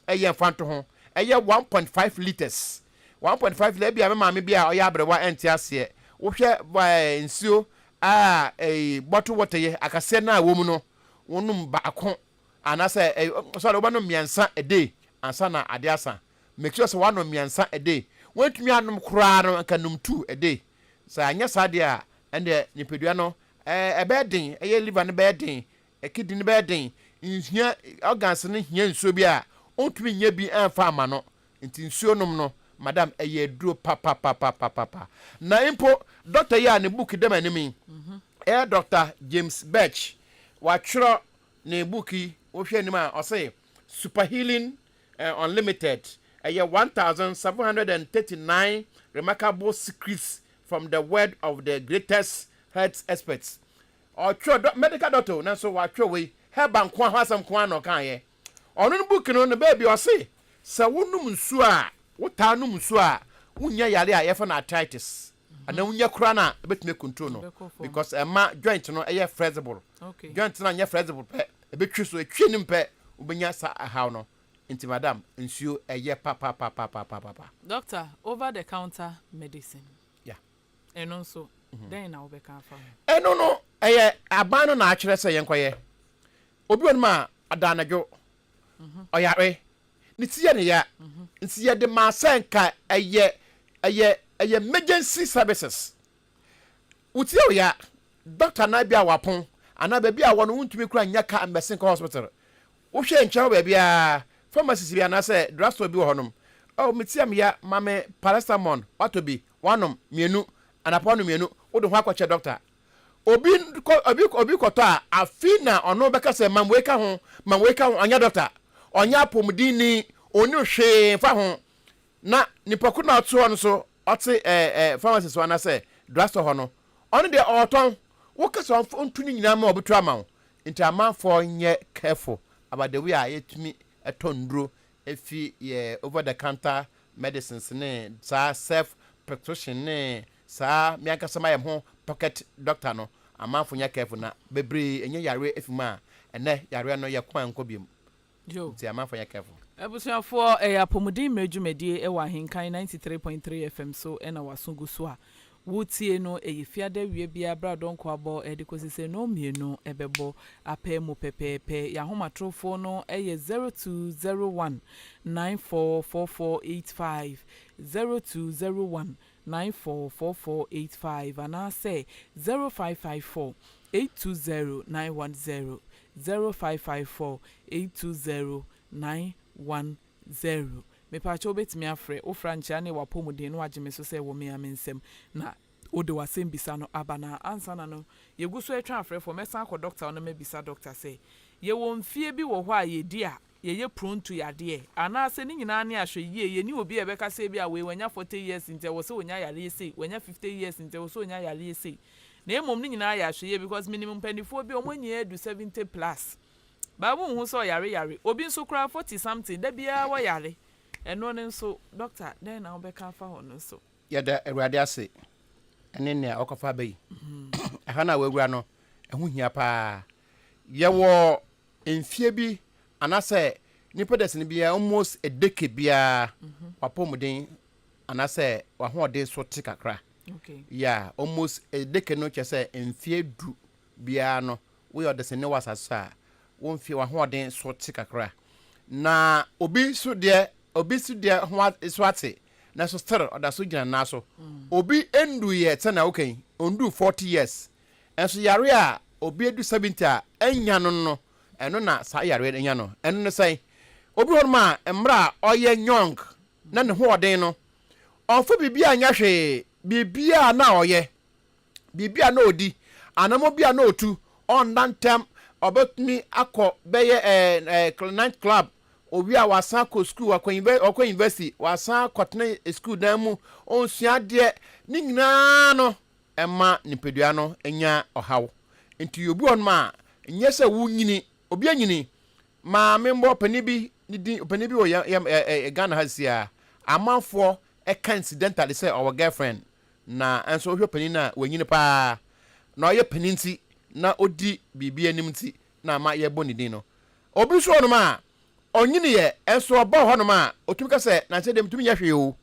yi yɛ mfantoho, ɛyɛ one point five litres, one point five litres, ebia me maame bi a ɔyɛ aberewa nte aseɛ, wohwɛ ɛɛ nsuo a ɛyi bottle water yi, akaseɛ no a ɛwɔ mu no, wonom baako Anaasɛ ɛy sorry, wobɛnom mmiɛnsa a day ansa na adeɛ asa. Make sure sɛ woanom mmiɛnsa a day. Woantumi annom koraa no, nka nom two a day. Sɛ anyɛ saa deɛ a, ɛnneɛ nipadua no ɛ ɛbɛyɛ den, ɛyɛ liver no bɛyɛ den, kidney no bɛyɛ den. Nhia organs no hia nsuo bi a, ɔntumi nnya bi mfa mma no. Nti nsuo nom no, madam, ɛyɛ aduro papapapapapa. Na mpo doctor yi a ne book da m'anim yi, ɛyɛ Doctor James Birch, watwerɛ Ne book yi wo hwɛ anim a ɔse Super Healing Unlimited ɛyɛ one thousand seven hundred and thirty nine remarkable secrets from the word of the greatest health experts ɔtwerɛ dɔ medical doctor o nanso watwerɛ wei herbal nkoa ho asɛm nkoa na ɔkaeɛ ɔno no book no ne baabi ɔse sɛ wo nom nsuo a wo taa nom nsuo a wo nnya yare a yɛfrɛ no arthritis Anaa wonya koraa no a ɛbɛtumi akontro no because ɛma joint no ɛyɛ flexible. Joint no anyɛ flexible pɛ, ɛbɛtwi so, ɛtwi anim pɛ wobɛnya saa ɛhaw no. Nti madam, nsuo ɛyɛ papapapapapapa. Doctor, over the counter medicine, Yeah. ɛno nso dɛn na wobɛka afa ho? Ɛno no, ɛyɛ aban no na akyerɛ sɛ yɛnkɔyɛ. Obi wɔ nom a, ada anadwo, ɔyare, Ne ti yɛ ne ya, nti yɛde maa sɛ nka ɛyɛ ɛyɛ ɛyɛ emergency services. Wo ti yɛ wo ya, doctor nan bi a wapon anaa baabi a wɔ no wontumi kura nnya car mmɛsen kɔ hospital. Wo hwɛ nkyɛn hɔ baabiara, pharmacist bi anaa sɛ drug store bi wɔ hɔ nom, oh me ti yɛ me ya, ma me paracetamol, watɔ bi, wanom, mmienu, anapa wanom mmienu, wode ho akɔkyɛ doctor. Obi kɔ obi obi kɔtɔ a, afei na ɔno bɛka sɛ mam wei ka ho, mam wei ka ho. Ɔnyɛ dɔkta, ɔnyɛ apɔmudinni, ɔnnim hwee mfa ho. Na nipa koro no a ɔte hɔ no nso, ɔte ɛ ɛ pharmacist hɔ anaasɛ drugstore hɔ no, ɔno deɛ ɔretɔn. Woka sɛ ɔmfa ntu ne nyinaa ma ɔbɛtu ama wo. Nti amanfoɔ nyɛ careful about the way a yɛtumi tɔ nnuro fi yɛ over the counter medicines ne saa self prescription ne Saa me ankasa mayɛ meho pocket doctor no amanfo nyɛ careful na bebree nya yareɛ efi mu a ɛnɛ yareɛ no yɛ kwan nkɔ biom nti amanfo nyɛ careful. Abusuafoɔ, ɛyɛ Apɔmuden Mmerɛ Dwumadie ɛwɔ Ahenkan ninety three point three FM so na w'aso gu so a woretie no. Ɛyɛ Fiada awia biara berɛ a dɔnkɔ abɔ de kɔsi sɛ nnɔn mmienu bɛbɔ apɛ mu pɛpɛɛpɛ. Yɛn ahomatorofoɔ no yɛ zero two zero one nine four four four eight five, zero two zero one nine four four four eight five anaasɛ zero five five four eight two zero nine one zero, zero five five four eight two zero nine one zero. Mepakyɛ wobɛtumi afrɛ wo fra nkyea ne w'apɔmuden na wagye me so sɛ wɔ mea me nsam na wode w'asɛm bisa no aba na ansa na no yɛgu so ɛtwɛn afrɛfoɔ mɛsan akɔ dɔkta hɔ na mabisa dɔkta sɛ yɛwɔ mfie bi wɔ hɔ a yɛdi a yɛyɛ pronto yadeɛ anaasɛ ne nyinaa ne ahwɛyie, yɛnni obi a yɛbɛka sɛ ebia wei wanya 40 years nti ɛwɔ sɛ ɔnya yareɛ sei, wanya 50 years nti ɛwɔ sɛ ɔnya yareɛ sei na mmom ne nyinaa yɛ ahwɛyie because menim mpaninfoɔ bi a wɔn nyinaa adu 70 plus but wonhu sɛ ɔyare yare, obi nso koraa 40 something da biara wɔyare, ɛno no nso doctor dɛn na wobɛka afa ho no nso. Yɛda Awurade ase ne nea ɔkɔfa aba yi. Ɛha no a woawura no, ɛho hia paa. Yɛwɔ Mfeɛ bi anaasɛ nipa dasani biara almost a decade biara w'apɔmuden anaasɛ w'ahoɔden so te kakra. Yeah, almost a decade no kyerɛ sɛ mfeɛ du biara no woyɛ ɔdasani wɔ asase so a wo mfeɛ w'ahoɔden so te kakra. Na obi so deɛ obi so deɛ ho so ate nanso still ɔda so gyina nan so. Obi nduiɛ sɛnea woka yi, ɔnduu 40 years Nso yare a obi adu seventy a annya no no, ɛno na saa yareɛ no anya no. Ɛno ne sɛn? Obi wɔ hɔnom a mmerɛ a ɔyɛ young na ne hoɔden no, ɔmfa biribiara nyɛ hwee. Biribiara na ɔyɛ, biribiara na ɔdi, anamɔ biara na ɔtu, ɔnna ntɛm, ɔbɛtumi akɔ bɛyɛ ɛɛ night club, ɔwie a wasan akɔ sukuu, wakɔ university, ɔkɔ university, wasan akɔtena sukuu dan mu, ɔnsua adeɛ. Ne nyinaa no, ɛma nipadua no nya ɔhaw. Enti yɛwɔ bi wɔ hɔnom a, nyɛ sɛ wonyini, obi anyini. Maame mbɔ ɔpanin bi ne din, ɔpanin bi wɔ yɛ, yɛ, ɛ, ɛ, Ghana ha sisi a, amanfoɔ ɛka incidentally sɛ ɔwɔ girlfriend, na nso wohwɛ panin no a, wanyini paa. Na ɔyɛ panin nti, na ɔdi biribi anim nti, na ama yɛbɔ ne din no. Obi nso wɔ hɔnom a, ɔnyiniiɛ, nso ɔba wɔ hɔnom a, ɔtumi ka sɛ, nanso deɛ metumi nyɛ hwee o.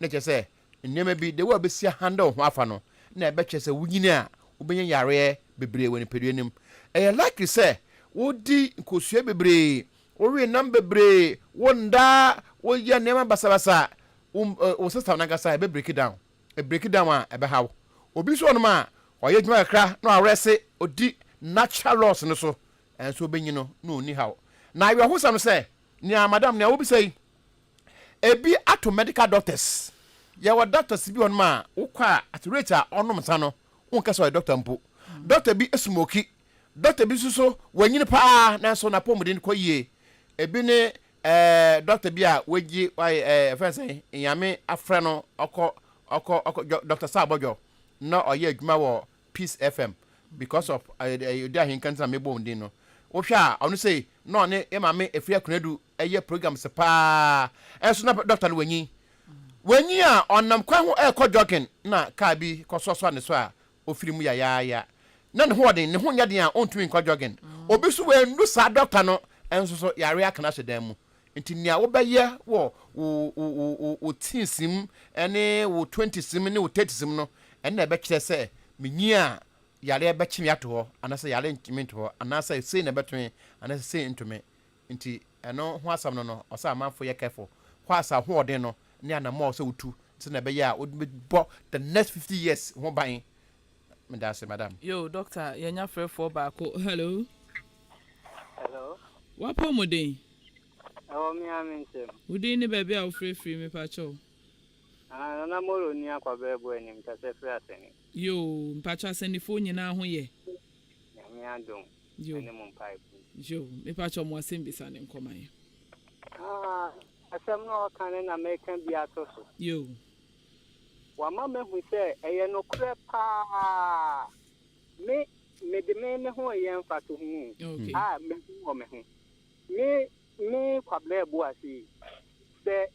Na kyerɛ sɛ, Nneɛma bi, the way a wobɛsi a handle wo ho afa no na ɛbɛkyerɛ sɛ wonyini a wobɛnya yareɛ bebree wɔ nipadua no mu. Ɛyɛ likely sɛ wodi nkosua bebree, wowe nam bebree, wo nda, woyɛ nneɛma basabasa, wo wo system no ankasa ɛbɛ break down. Ɛ break down a ɛbɛha wo. Obi nso wɔ hɔnom a ɔyɛ adwuma kakra na wawerɛse, ɔdi natural laws no so nso ɔbɛnyini no na ɔnni haw. Na awerɛhosɛm no sɛ, nea madam nea wobisa yi, ebi ato medical doctors yɛwɔ doctors bi wɔ nom a wokɔ a at rate a ɔnom nsa no wonkɛ sɛ ɔyɛ doctor mpo doctor bi smoki doctor bi nso so wanyini paa nanso n'apɔmuden kɔ yie ebi ne ɛɛ doctor bi a wagye wayɛ ɛɛ ɛfɛn sɛ nyame afrɛ no ɔkɔ ɔkɔ ɔkɔ doctor saa abɔdwɔ na ɔyɛ adwuma wɔ peace fm because of ɛɛ ɛɛ odi ahenkan ntina mebɔ wɔn din no wohwɛ a ɔno sei na ɔne yɛ maame efiri akunadu Ɛyɛ programs paa nso na dɔkta no wanyin. Wanyin a ɔnam kwan ho rekɔ jogging na kaa bi kɔsoasoa ne so a ofiri mu yayaaya. Na ne ho wɔ den, ne ho nyɛ den a ontumi nkɔ jogging. Obi nso wannu saa dɔkta no nso so yare aka no ahyɛ dan mu. Enti nea wobɛyɛ wɔ wo wo wo wo wo teens mu ne wo twenties mu ne wo thirties mu no, ɛno na ɛbɛkyerɛ sɛ minyin a yare bɛkye me ato hɔ anaasɛ yare nnkye me nto hɔ anaasɛ sei na ɛbɛto me anaasɛ sei nto me. Nti ɛno ho asɛm no no ɔsɛ amanfo yɛ careful hɔ as ahoɔden no ne anamɔ a ɔsɛ wotu sɛ na ɛbɛyɛ a wobɛbɔ the next fifty years ho ban. Medaase madam. Yoo Doctor yɛanya frɛfoɔ baako. Hello. Hello. W'apɔmuden. Ɛwɔ me ara me nsam. Wo din ne baabi a wofrɛ firi mepakyɛw. Ah Nana Molo ni Akwaberɛ Boanim Tɛsɛ firi Asɛni. Yoo mpakyɛ Asɛnifoɔ nyinaa ho yɛ. Nyame adom ɛne mo mpaebɔ nti. Yo mepakyɛw mo asɛm bisa no nkɔ ma yɛn. Haa asɛm no a ɔka no na meka bi ato so. Yo. Wama mahu sɛ ɛyɛ nokorɛ paa me mede me me ho reyɛ mfatoho o okay. a mahu wɔ me ho me me Kwabena Abuase yi sɛ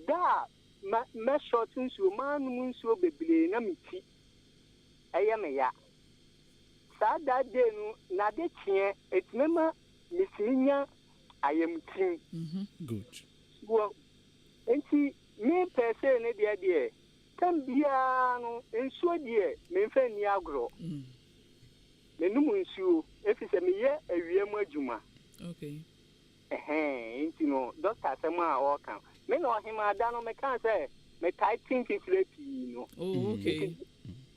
da a ma mɛ short nsuo manom nsuo bebree na me ti ɛyɛ me ya Saa daa dei no n'ade kyeɛ ɛtumi ma metumi nya ayamtim. Wɔ nti me pɛɛsee no deɛ deɛ tam biara no nsuo deɛ menfa nni agorɔ menom nsuo ɛfisɛ meyɛ awia mu adwuma. Ɛhɛɛn, nti no Doctor asɛm a ɔɔka no, me na ɔhemaa da no mekaa sɛ metae te mfifire pii no. Oh okay. Nti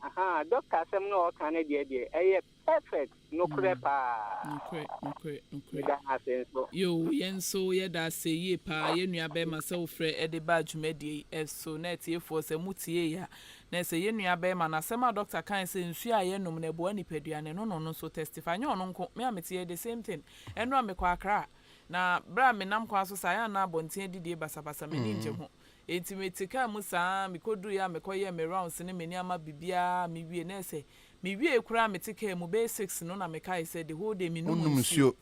ahaa, Doctor asɛm no a ɔɔka no deɛ deɛ ɛyɛ perfect, nokorɛ paa. Nokorɛ, nokorɛ, nokorɛ. Meda no ase nso. Yoo, yɛn nso yɛda ase yie paa yɛn nua bɛɛma sɛ wo frɛ ɛde baa dwumadie yi ɛso, na atiefoɔ sɛ mo tiee a, na ɛsɛ yɛn nua bɛɛma no asɛm a Doctor kae sɛ nsuo a yɛnom no ɛboa nipadua no, ɛno na ɔno nso testify, nyɛ ɔno nko, me a mete yɛ the same thing, Ɛno a mekɔ Accra, na bere a menam kwan so saa, yɛn na abɔnten adidie basabasa, m'ani ngye ho. Enti mete kaa mu saa ara, mekoduruiɛ a mekɔyɛɛ me rounds ne me nneɛma biribiara a mewie, na ɛsɛ mewiee koraa a mete kaa mu, bɛyɛ six no na mekae sɛ the whole day mennom Wonnom nsuo. nsuo.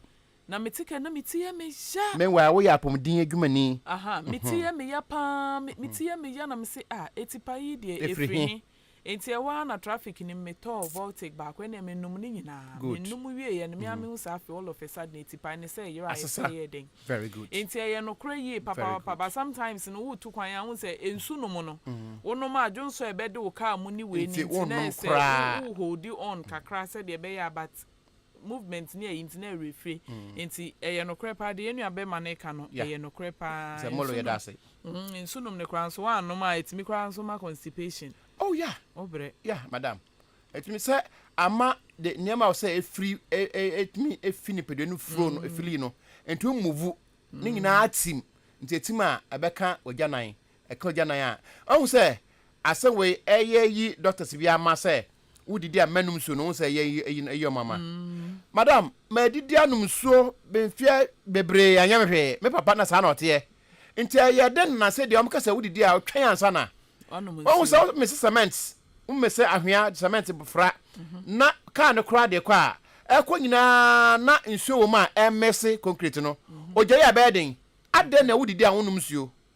Na mete kaa na me ti yɛ me ya. Meanwhile woyɛ apɔmuden adwumani. Aha, me ti yɛ me ya paa, me ti yɛ me ya na mese ah, atipa yi deɛ Ɛfiri ɛfiri he? he? Enti ɛhɔ ara na traffic no mu metɔɔ voltic baako ɛnna menom ne nyinaa. Good. Menom wieeɛ no, me ara mehu sɛ afei all of a sudden atipae no sɛ ɛyeraeɛ sɛ Asesa. ɛyɛɛ dɛn. Very good. Enti ɛyɛ nokorɛ yie Very papapapa good. but sometimes no woretu kwan a wohu sɛ nsu nom no, wonom a dwonsɔ a ɛbɛde wo car mu ne wei no Nti nti na wonnom ɛyɛ sɛ wo koraa. wo holdi on kakra sɛdeɛ ɛbɛyɛ a but movement ne ayi nti na ɛyɛ werɛfire nti ɛyɛ nokorɛ paa deɛ yɛn nua bɛrima no reka no ɛyɛ nokorɛ paa sɛ molo yɛda ase nsu nom no koraa nso woanom a ɛtumi koraa nso ma constipation oh ya wobrɛ ya madam ɛtumi sɛ ama de nneɛma a ɔsɛ ɛfiri ɛtumi ɛfi nipadua no furo no ɛfili no ɛtumi muvu ne nyinaa tim nti ɛtim a ɛbɛka wagya nan Ɛka ogya nan a, ahu sɛ asɛ wei ɛyɛ yi doctors bi ama sɛ wo didi a mɛnum nsuo no, wohu sɛ ɛyɛ yi ɛyi ɛyi ɔmo ama. Madam, madidi anom nsuo mfeɛ bebree anyɛ me hwee, me papa na saa na ɔteɛ, nti ɛyɛ den nana sɛ deɛ ɔmo ka sɛ wo didi a twɛn ansa na wahu sɛ wo mese cement, wo mese ahwea cement fra na car no koraa de kɔ a ɛkɔ nyinaa na nsuo wɔ mu a ɛmese concrete no, ogya yi a ɛbɛyɛ den, adɛn na wo didi a wonum nsuo.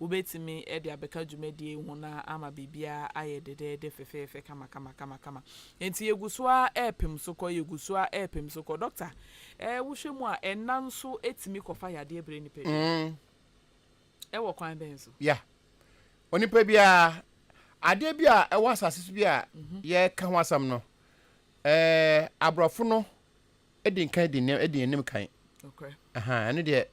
Wobɛtumi de abɛka dwumadie yi ho na ama biribiara ayɛ dɛdɛɛdɛ fɛfɛɛfɛ kamakamakama. Enti yɛgu so ara repem so kɔ, yɛgu so ara repem so kɔ. Dɔkta, eh, wohwɛ mu a, ɛnã nso tumi kɔfa yadeɛ brɛ nnipa bi? Mm. Ɛwɔ kwan bɛn so? Ya. Onipa biara, adeɛ bi a ɛwɔ asase so bi a yɛreka ho asɛm no, eh, aborɔfo no di nkan di nneɛ, di anim kan. Nokorɛ. Aha, ɛno deɛ,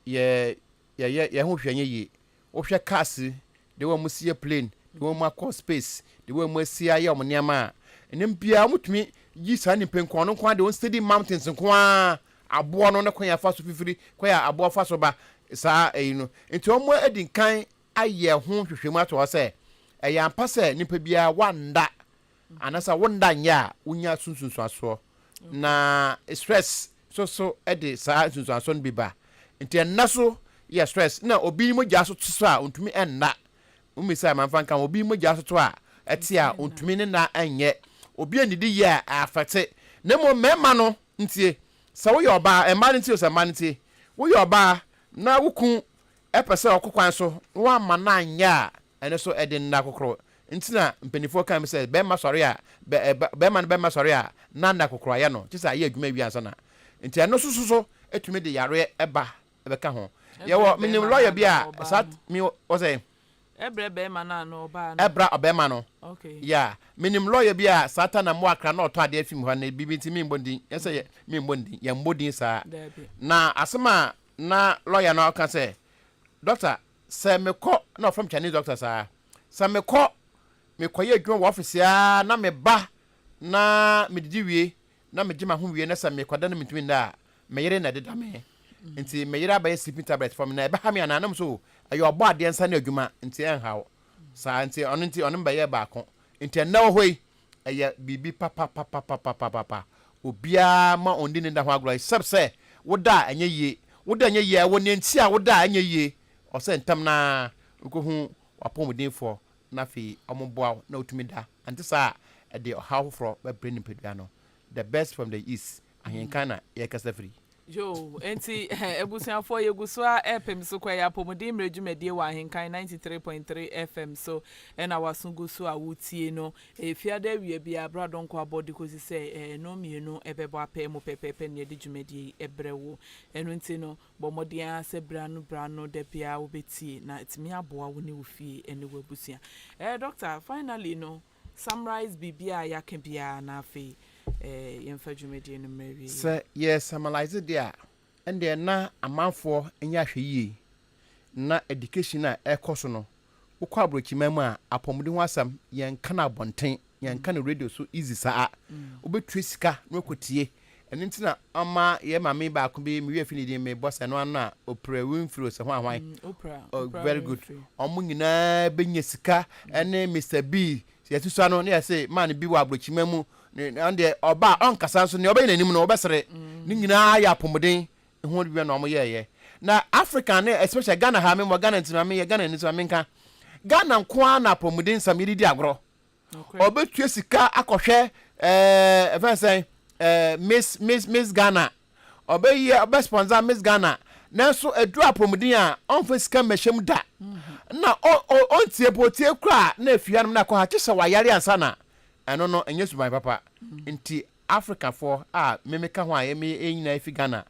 yɛ, Yɛyɛ yɛn ho hwɛ nyɛ yie. Wohwɛ cars the way wɔsi yɛ plane, the way wɔakɔ space, the way wɔasi ayɛ wɔn nneɛma a, ɛnam biara wɔtumi yi saa nipa yi nko ara, ɔno nko ara deɛ ɔnsteady mountains nko ara, aboɔ no ne kwan a ɛfa so fifiri kwan a aboɔ fa so ba saa ɛyi no. Nti wɔadi nkan ayɛ ho nhwehwɛmu ato hɔ sɛ ɛyɛ ampa sɛ nipa biara wanda Anasa wo nna nyɛ a wonya so nsunsuasoɔ na stress soso de saa nsunsuasoɔ no bi ba nti ɛnna so yɛ stress na obi mogya so to so a ontumi ɛnna womisa a manfa nka ho obi mogya so to a ɛte a ontumi ne na ɛnyɛ obi anidi yɛ a afɛte na mmom mmarima no ntie sɛ woyɛ ɔbaa mmaa no ntie sɛ mmaa no ntie woyɛ ɔbaa na wo kun ɛpɛ sɛ ɔkɔ kwan so na woamma no anyɛ a Ɛno nso ɛde nna kokoro nti na mpaninfoɔ kae mu sɛ bɛɛma sɔre a bɛɛma no bɛɛma sɔre a na nna kokoro ayɛ no kyesɛ ayɛ adwuma awie ansa na nti ɛno nso soso ɛtumi de yareɛ ba ɛbɛka ho yɛwɔ menim lɔya bi a saa mi ɔsɛ ɛbrɛ bɛɛma no anaa ɔbaa no ɛbra ɔbɛɛma no ya menim lɔya bi a saa ta na mo akra na ɔtɔ adeɛ fi mu hɔ na bibi nti mi mbɔ din yɛsɛ yɛ mi mbɔ din yɛ mbɔ din saa na asɛm a na lɔya no ɔka sɛ dɔkta Sɛ mekɔ na wɔfrɛ me Chinese doctor saa. Sɛ mekɔ, mekɔyɛ adwuma wɔ office ara na meba na medidi wie na megye m'aho wie na sɛ mekɔda na mentumi nda a, me yere na ɛde da me. Nti me yere abɛyɛ sleeping tablet for me. Na ɛbɛha me anaa? Na mese o, ɛyɛ ɔbɔ adeɛ nsa ano adwuma nti ɛnhaw saa. Nti ɔno nti ɔne me bɛyɛɛ baako. Nti ɛnnɛ wɔ hɔ yi, Ɛyɛ biribi papapapapapapa. Obiara ma ɔndi ne nda ho agorɔ except sɛ wo da a ɛnyɛ yie. Wo da a ɛnyɛ yie a ɛwɔ nea nti a wo da a ɛnyɛ yie ɔwɔ sɛ ntɛm no ara wokɔhu w'apɔmudenfoɔ na afei wɔboa wo na wotumi da. Ɛnte saa a ɛde ɔhaw foforɔ bɛbrɛ nipadua no. The best from the east Ahenka na yɛkasa firi. Yoo, enti abusuafoɔ yɛgu so ara repem so kɔ. Ɛyɛ Apɔmuden Mmerɛ Dwumadie wɔ Ahenkan ninety three point three FM so na w'aso gu so a wotie no. Fiada awia biara bra Donkor abɔ de kɔsi sɛ ɛno mmienu bɛbɔ apɛ mu pɛpɛɛpɛ na yɛde dwumadie yi brɛ wo. Ɛno nti no, bɔ mmɔden ara sɛ berɛ ano berɛ ano da biara wobɛtie na atumi aboa wo ne wo fie ne w'abusua. Doctor, finally no, Summarise biribiara a yɛaka biara na afei yɛmfa dwumadie no mmra awieeɛ. Sɛ yɛ summarise deɛ a, ɛndeɛ na amanfoɔ nyɛ ahwɛyie. Na education a ɛrekɔ so no, wokɔ aborɔkyiman mu a, apɔmuden ho asɛm, yɛnka no abɔnten, yɛnka no radio so easy saa. Wobɛtua sika na woakɔtie Ɛno nti na ɔma yɛ maame baako bi, me werɛ fi ne din, me bɔ sɛ ɛno ano a, Oprah Winfrey ose hwan hwan? Mm, Oprah, oh, Oprah very good. Winfrey. Ɔmo nyinaa bɛnya sika ɛne Mister Bee, sɛ yɛasusua no ne yɛse man bi wɔ abrokyima mu, ne, ɔno deɛ ɔba a ɔnkasa nso nea ɔbɛyɛ n'anim no wobɛsere. Ne nyinaa yɛ apɔmuden ho adwuma na ɔmo yɛɛyɛ. Na Africa ne especially Ghana ha, me wɔ Ghana nti ma me yɛ Ghanani nti ma me nka, Ghana nko ara na apɔmuden nsɛm yɛde di agorɔ. ɔbɛtua sika akɔhwɛ ɛfɛn eh, sɛn eh, miss miss miss ghana ɔbɛyɛ ɔbɛ sponsor miss ghana nanso aduru apɔmuden a ɔnfa sika mmɛhyɛ mu da mm-hmm. na ɔntie po tie kura na efi hanom na akɔ ha kye sɛ wayare ansa na ɛno no ɛnyɛ suban papa mm-hmm. nti africafoɔ a mmemme ka ho a ɛmi ɛnyina efi ghana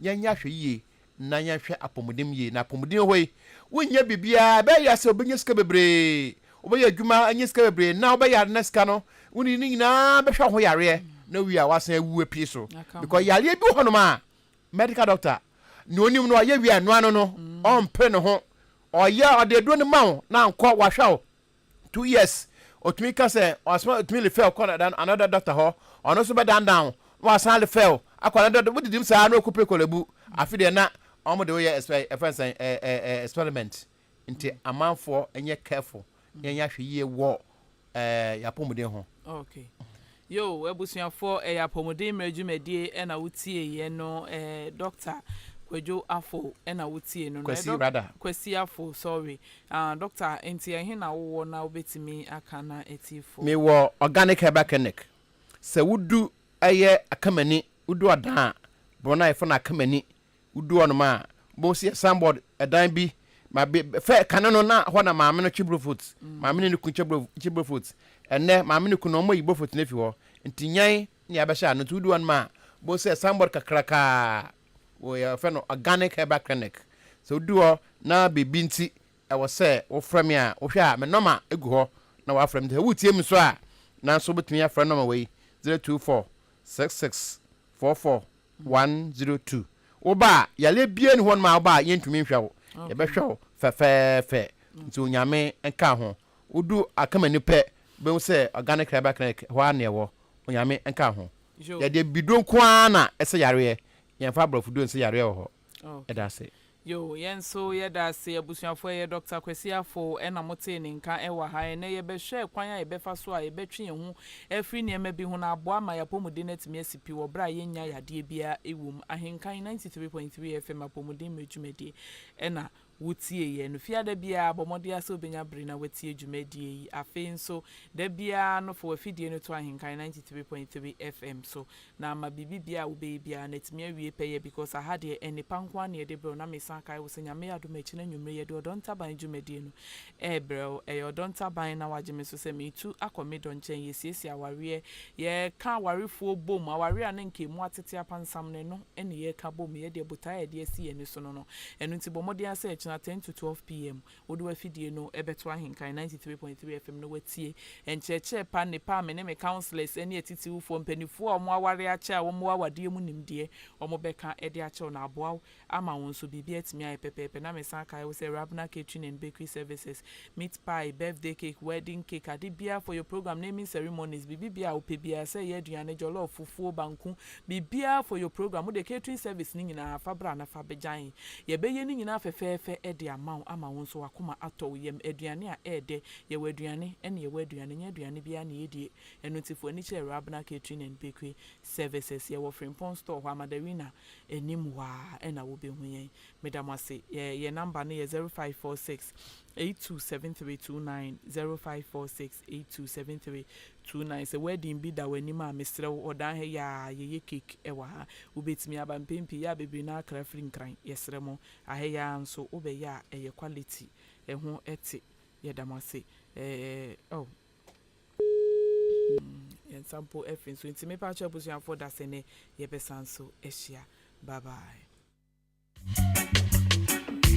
yɛnyɛ ahwɛ yie na yɛnhwɛ apɔmuden yie, na apɔmuden wɔ hɔ yi, wonyɛ biribiara, ɛbɛyɛ yɛ sɛ wobɛnya sika bebree, wobɛyɛ adwuma anya sika bebree, na wobɛyare na sika no, wode ne nyinaa bɛhwɛ wo ho yareɛ, na wie a woasan awu apue so, because yareɛ bi wɔ hɔnom a, medical doctor, nea onim no ɔyɛ wie a ɛnoa no no, ɔmpere ne ho, ɔyɛ ɔde aduro no ma wo na ankɔ wahwɛ wo. Two years otumi ka sɛ ɔsoma otumi refer kɔ another doctor hɔ ɔno nso bɛdan dan wo na wasan refer wo akɔ another doctor wodidim saa na ɔkɔ pekɔ labu afe deɛ na wɔn de woyɛ ɛsɛ ɛfɛn sɛn ɛɛ experiment nti amanfoɔ nyɛ careful yɛn yɛ ahwɛ yie wɔ ɛɛ yapɔmuden ho. Okay. Yoo abusuafoɔ ɛyɛ apɔmuden mmerɛ dwumadie ɛna wo tie yɛ no ɛɛ Doctor kwadwo afo ɛna wo tie no no Kwasi ɛdɔ rather. Kwasi afo sorry ah Doctor nti ɛhe na wo wɔ na wo bɛtumi aka na atiefo. Me wɔ organic herbal clinic sɛ wo du ɛyɛ akamani wo du ɔdan a borɔ no a yɛfrɛ no akamani Wodu hɔnom a, wobohu sɛ sign board dan bi ma be fɛ kane no na hɔ na maame no kye brofot. Maame ne ne kun kye bro kye brofot. Ɛnnɛ maame ne kun no wɔayi brofot no afi hɔ nti nyan ne abɛhyɛ ano nti wodu hɔnom a wobohu sɛ sign board kakrakaa wɔ yɛfɛ no organic herbal clinic. Sɛ wodu hɔ na biribi nti ɛwɔ sɛ wofrɛ me a wohwɛ a me nɔma gu hɔ na woafrɛ me nti sɛ woretie me nso a nanso wobɛtumi afrɛ nɔma wei zero two four six six four four one zero two wo ba a yareɛ biaa ni hɔnom a wo ba a yɛntumi nhwɛ wo yɛbɛhwɛ wo fɛfɛɛfɛ nti onyame nka ho wo du akamani pɛ wobɛhu sɛ organic herbal clinic hɔ ara na ɛwɔ onyame nka ho yɛde abibiduro nko ara na ɛsɛ yareɛ yɛmfa aborɔfo duro nsɛ yareɛ wɔ hɔ. Ɛda ase. Yoo, yɛn nso yɛda ase. Abusuafo, ɛyɛ Dɔkta Kwasi Afful na motee ne nka wɔ ha. Ɛnnɛ yɛbɛhwɛ kwan a yɛbɛfa so a yɛbɛtwe yɛn ho afiri nneɛma bi ho na aboa ama yɛn apɔmuden no atumi asi pi wɔ bere a yɛnnya yadeɛ biara wom. Ahenkan ninety three point three FM Apɔmuden Mmerɛ Dwumadie na wotieeɛ no. Fiada biara, bɔ mmɔden ara sɛ wobɛnya bere na woatie dwumadie yi. Afei nso, da biara no, fa w'afidie no to Ahenkan ninety three point three FM so, na ama biribibiara a wobɛyɛ biara no atumi awie pɛyɛ, because aha deɛ, nnepa nko ara na yɛde brɛ wo, na mesan kae wo sɛ, Nyame adom a, akyire no anwumerɛ, yɛde Ɔdɔ Ntaban dwumadie no Ɛɛ brɛw, ɛyɛ ɔdɔ ntaban na wagye me so sɛ meretu akɔ me dɔ nkyɛn, yɛsiesie awareɛ, yɛreka awarefoɔ bom, awareɛ a na nka ɛmu atete apansam no, ɛno ne yɛreka bom, yɛdeɛ botae a yɛde asi yɛn ani so no no. Ɛno nti bɔ mmɔden ara sɛ kyena ten to twelve PM wode w'afidie no bɛto ahenkan ninety three point three FM na woatie nkyerɛkyerɛ pa nnepa a me ne me counsellors ne atitiwfoɔ, mpaninfoɔ a wɔn awareɛ akyɛ a wɔwɔ awadeɛ mu nimdeɛ wɔbɛka de akyerɛ wo na aboa wo ama wo nso biribi atumi ayɛ pɛpɛɛpɛ na mesan kae wo sɛ Rabna Catering and Bakery Services, meat pie, birthday cake, wedding cake, ade biara for your program, naming ceremonies, biribibiara a wopɛ biara, sɛ ɛyɛ aduane, jollof, fufuo, banku, biribiara for your program, wode catering service no nyinaa fa bra na fa bɛgyan. Yɛbɛyɛ ne nyinaa fɛfɛɛfɛ de ama wo ama wo nso w'akoma atɔ wo yam. Aduane a ɛyɛ dɛ, yɛwɔ aduane, ɛne yɛwɔ aduane, ɛnyɛ aduane biara na yɛdie. Ɛno nti fo ani kyerɛ Rabna Catering and Bakery Services, yɛwɔ Frimpong Store hɔ a, Madarina anim hɔ ara ɛna wobɛhu yɛn. Meda mo ase. Yɛn, yɛn number no yɛ zero five four six eight two seven three two nine, zero five four six eight two seven three two nine. Sɛ wedding bi da w'anim a, mesrɛ wo, Ɔdan ha yi ara, yɛyɛ cake wɔ ha. Wobɛtumi aba, mpɛn pii, yɛ a bebree no ara kra firi Nkran. Yɛsrɛ mo, aha yi ara nso, wobɛyɛ a, ɛyɛ quality, ɛho te. Yɛda mo ase. Ɛɛ, oh, Yɛn nsa mpo afi nso nti me pakyɛw abusuafoɔ dasɛnɛ yɛbɛsan so ahyia bye bye.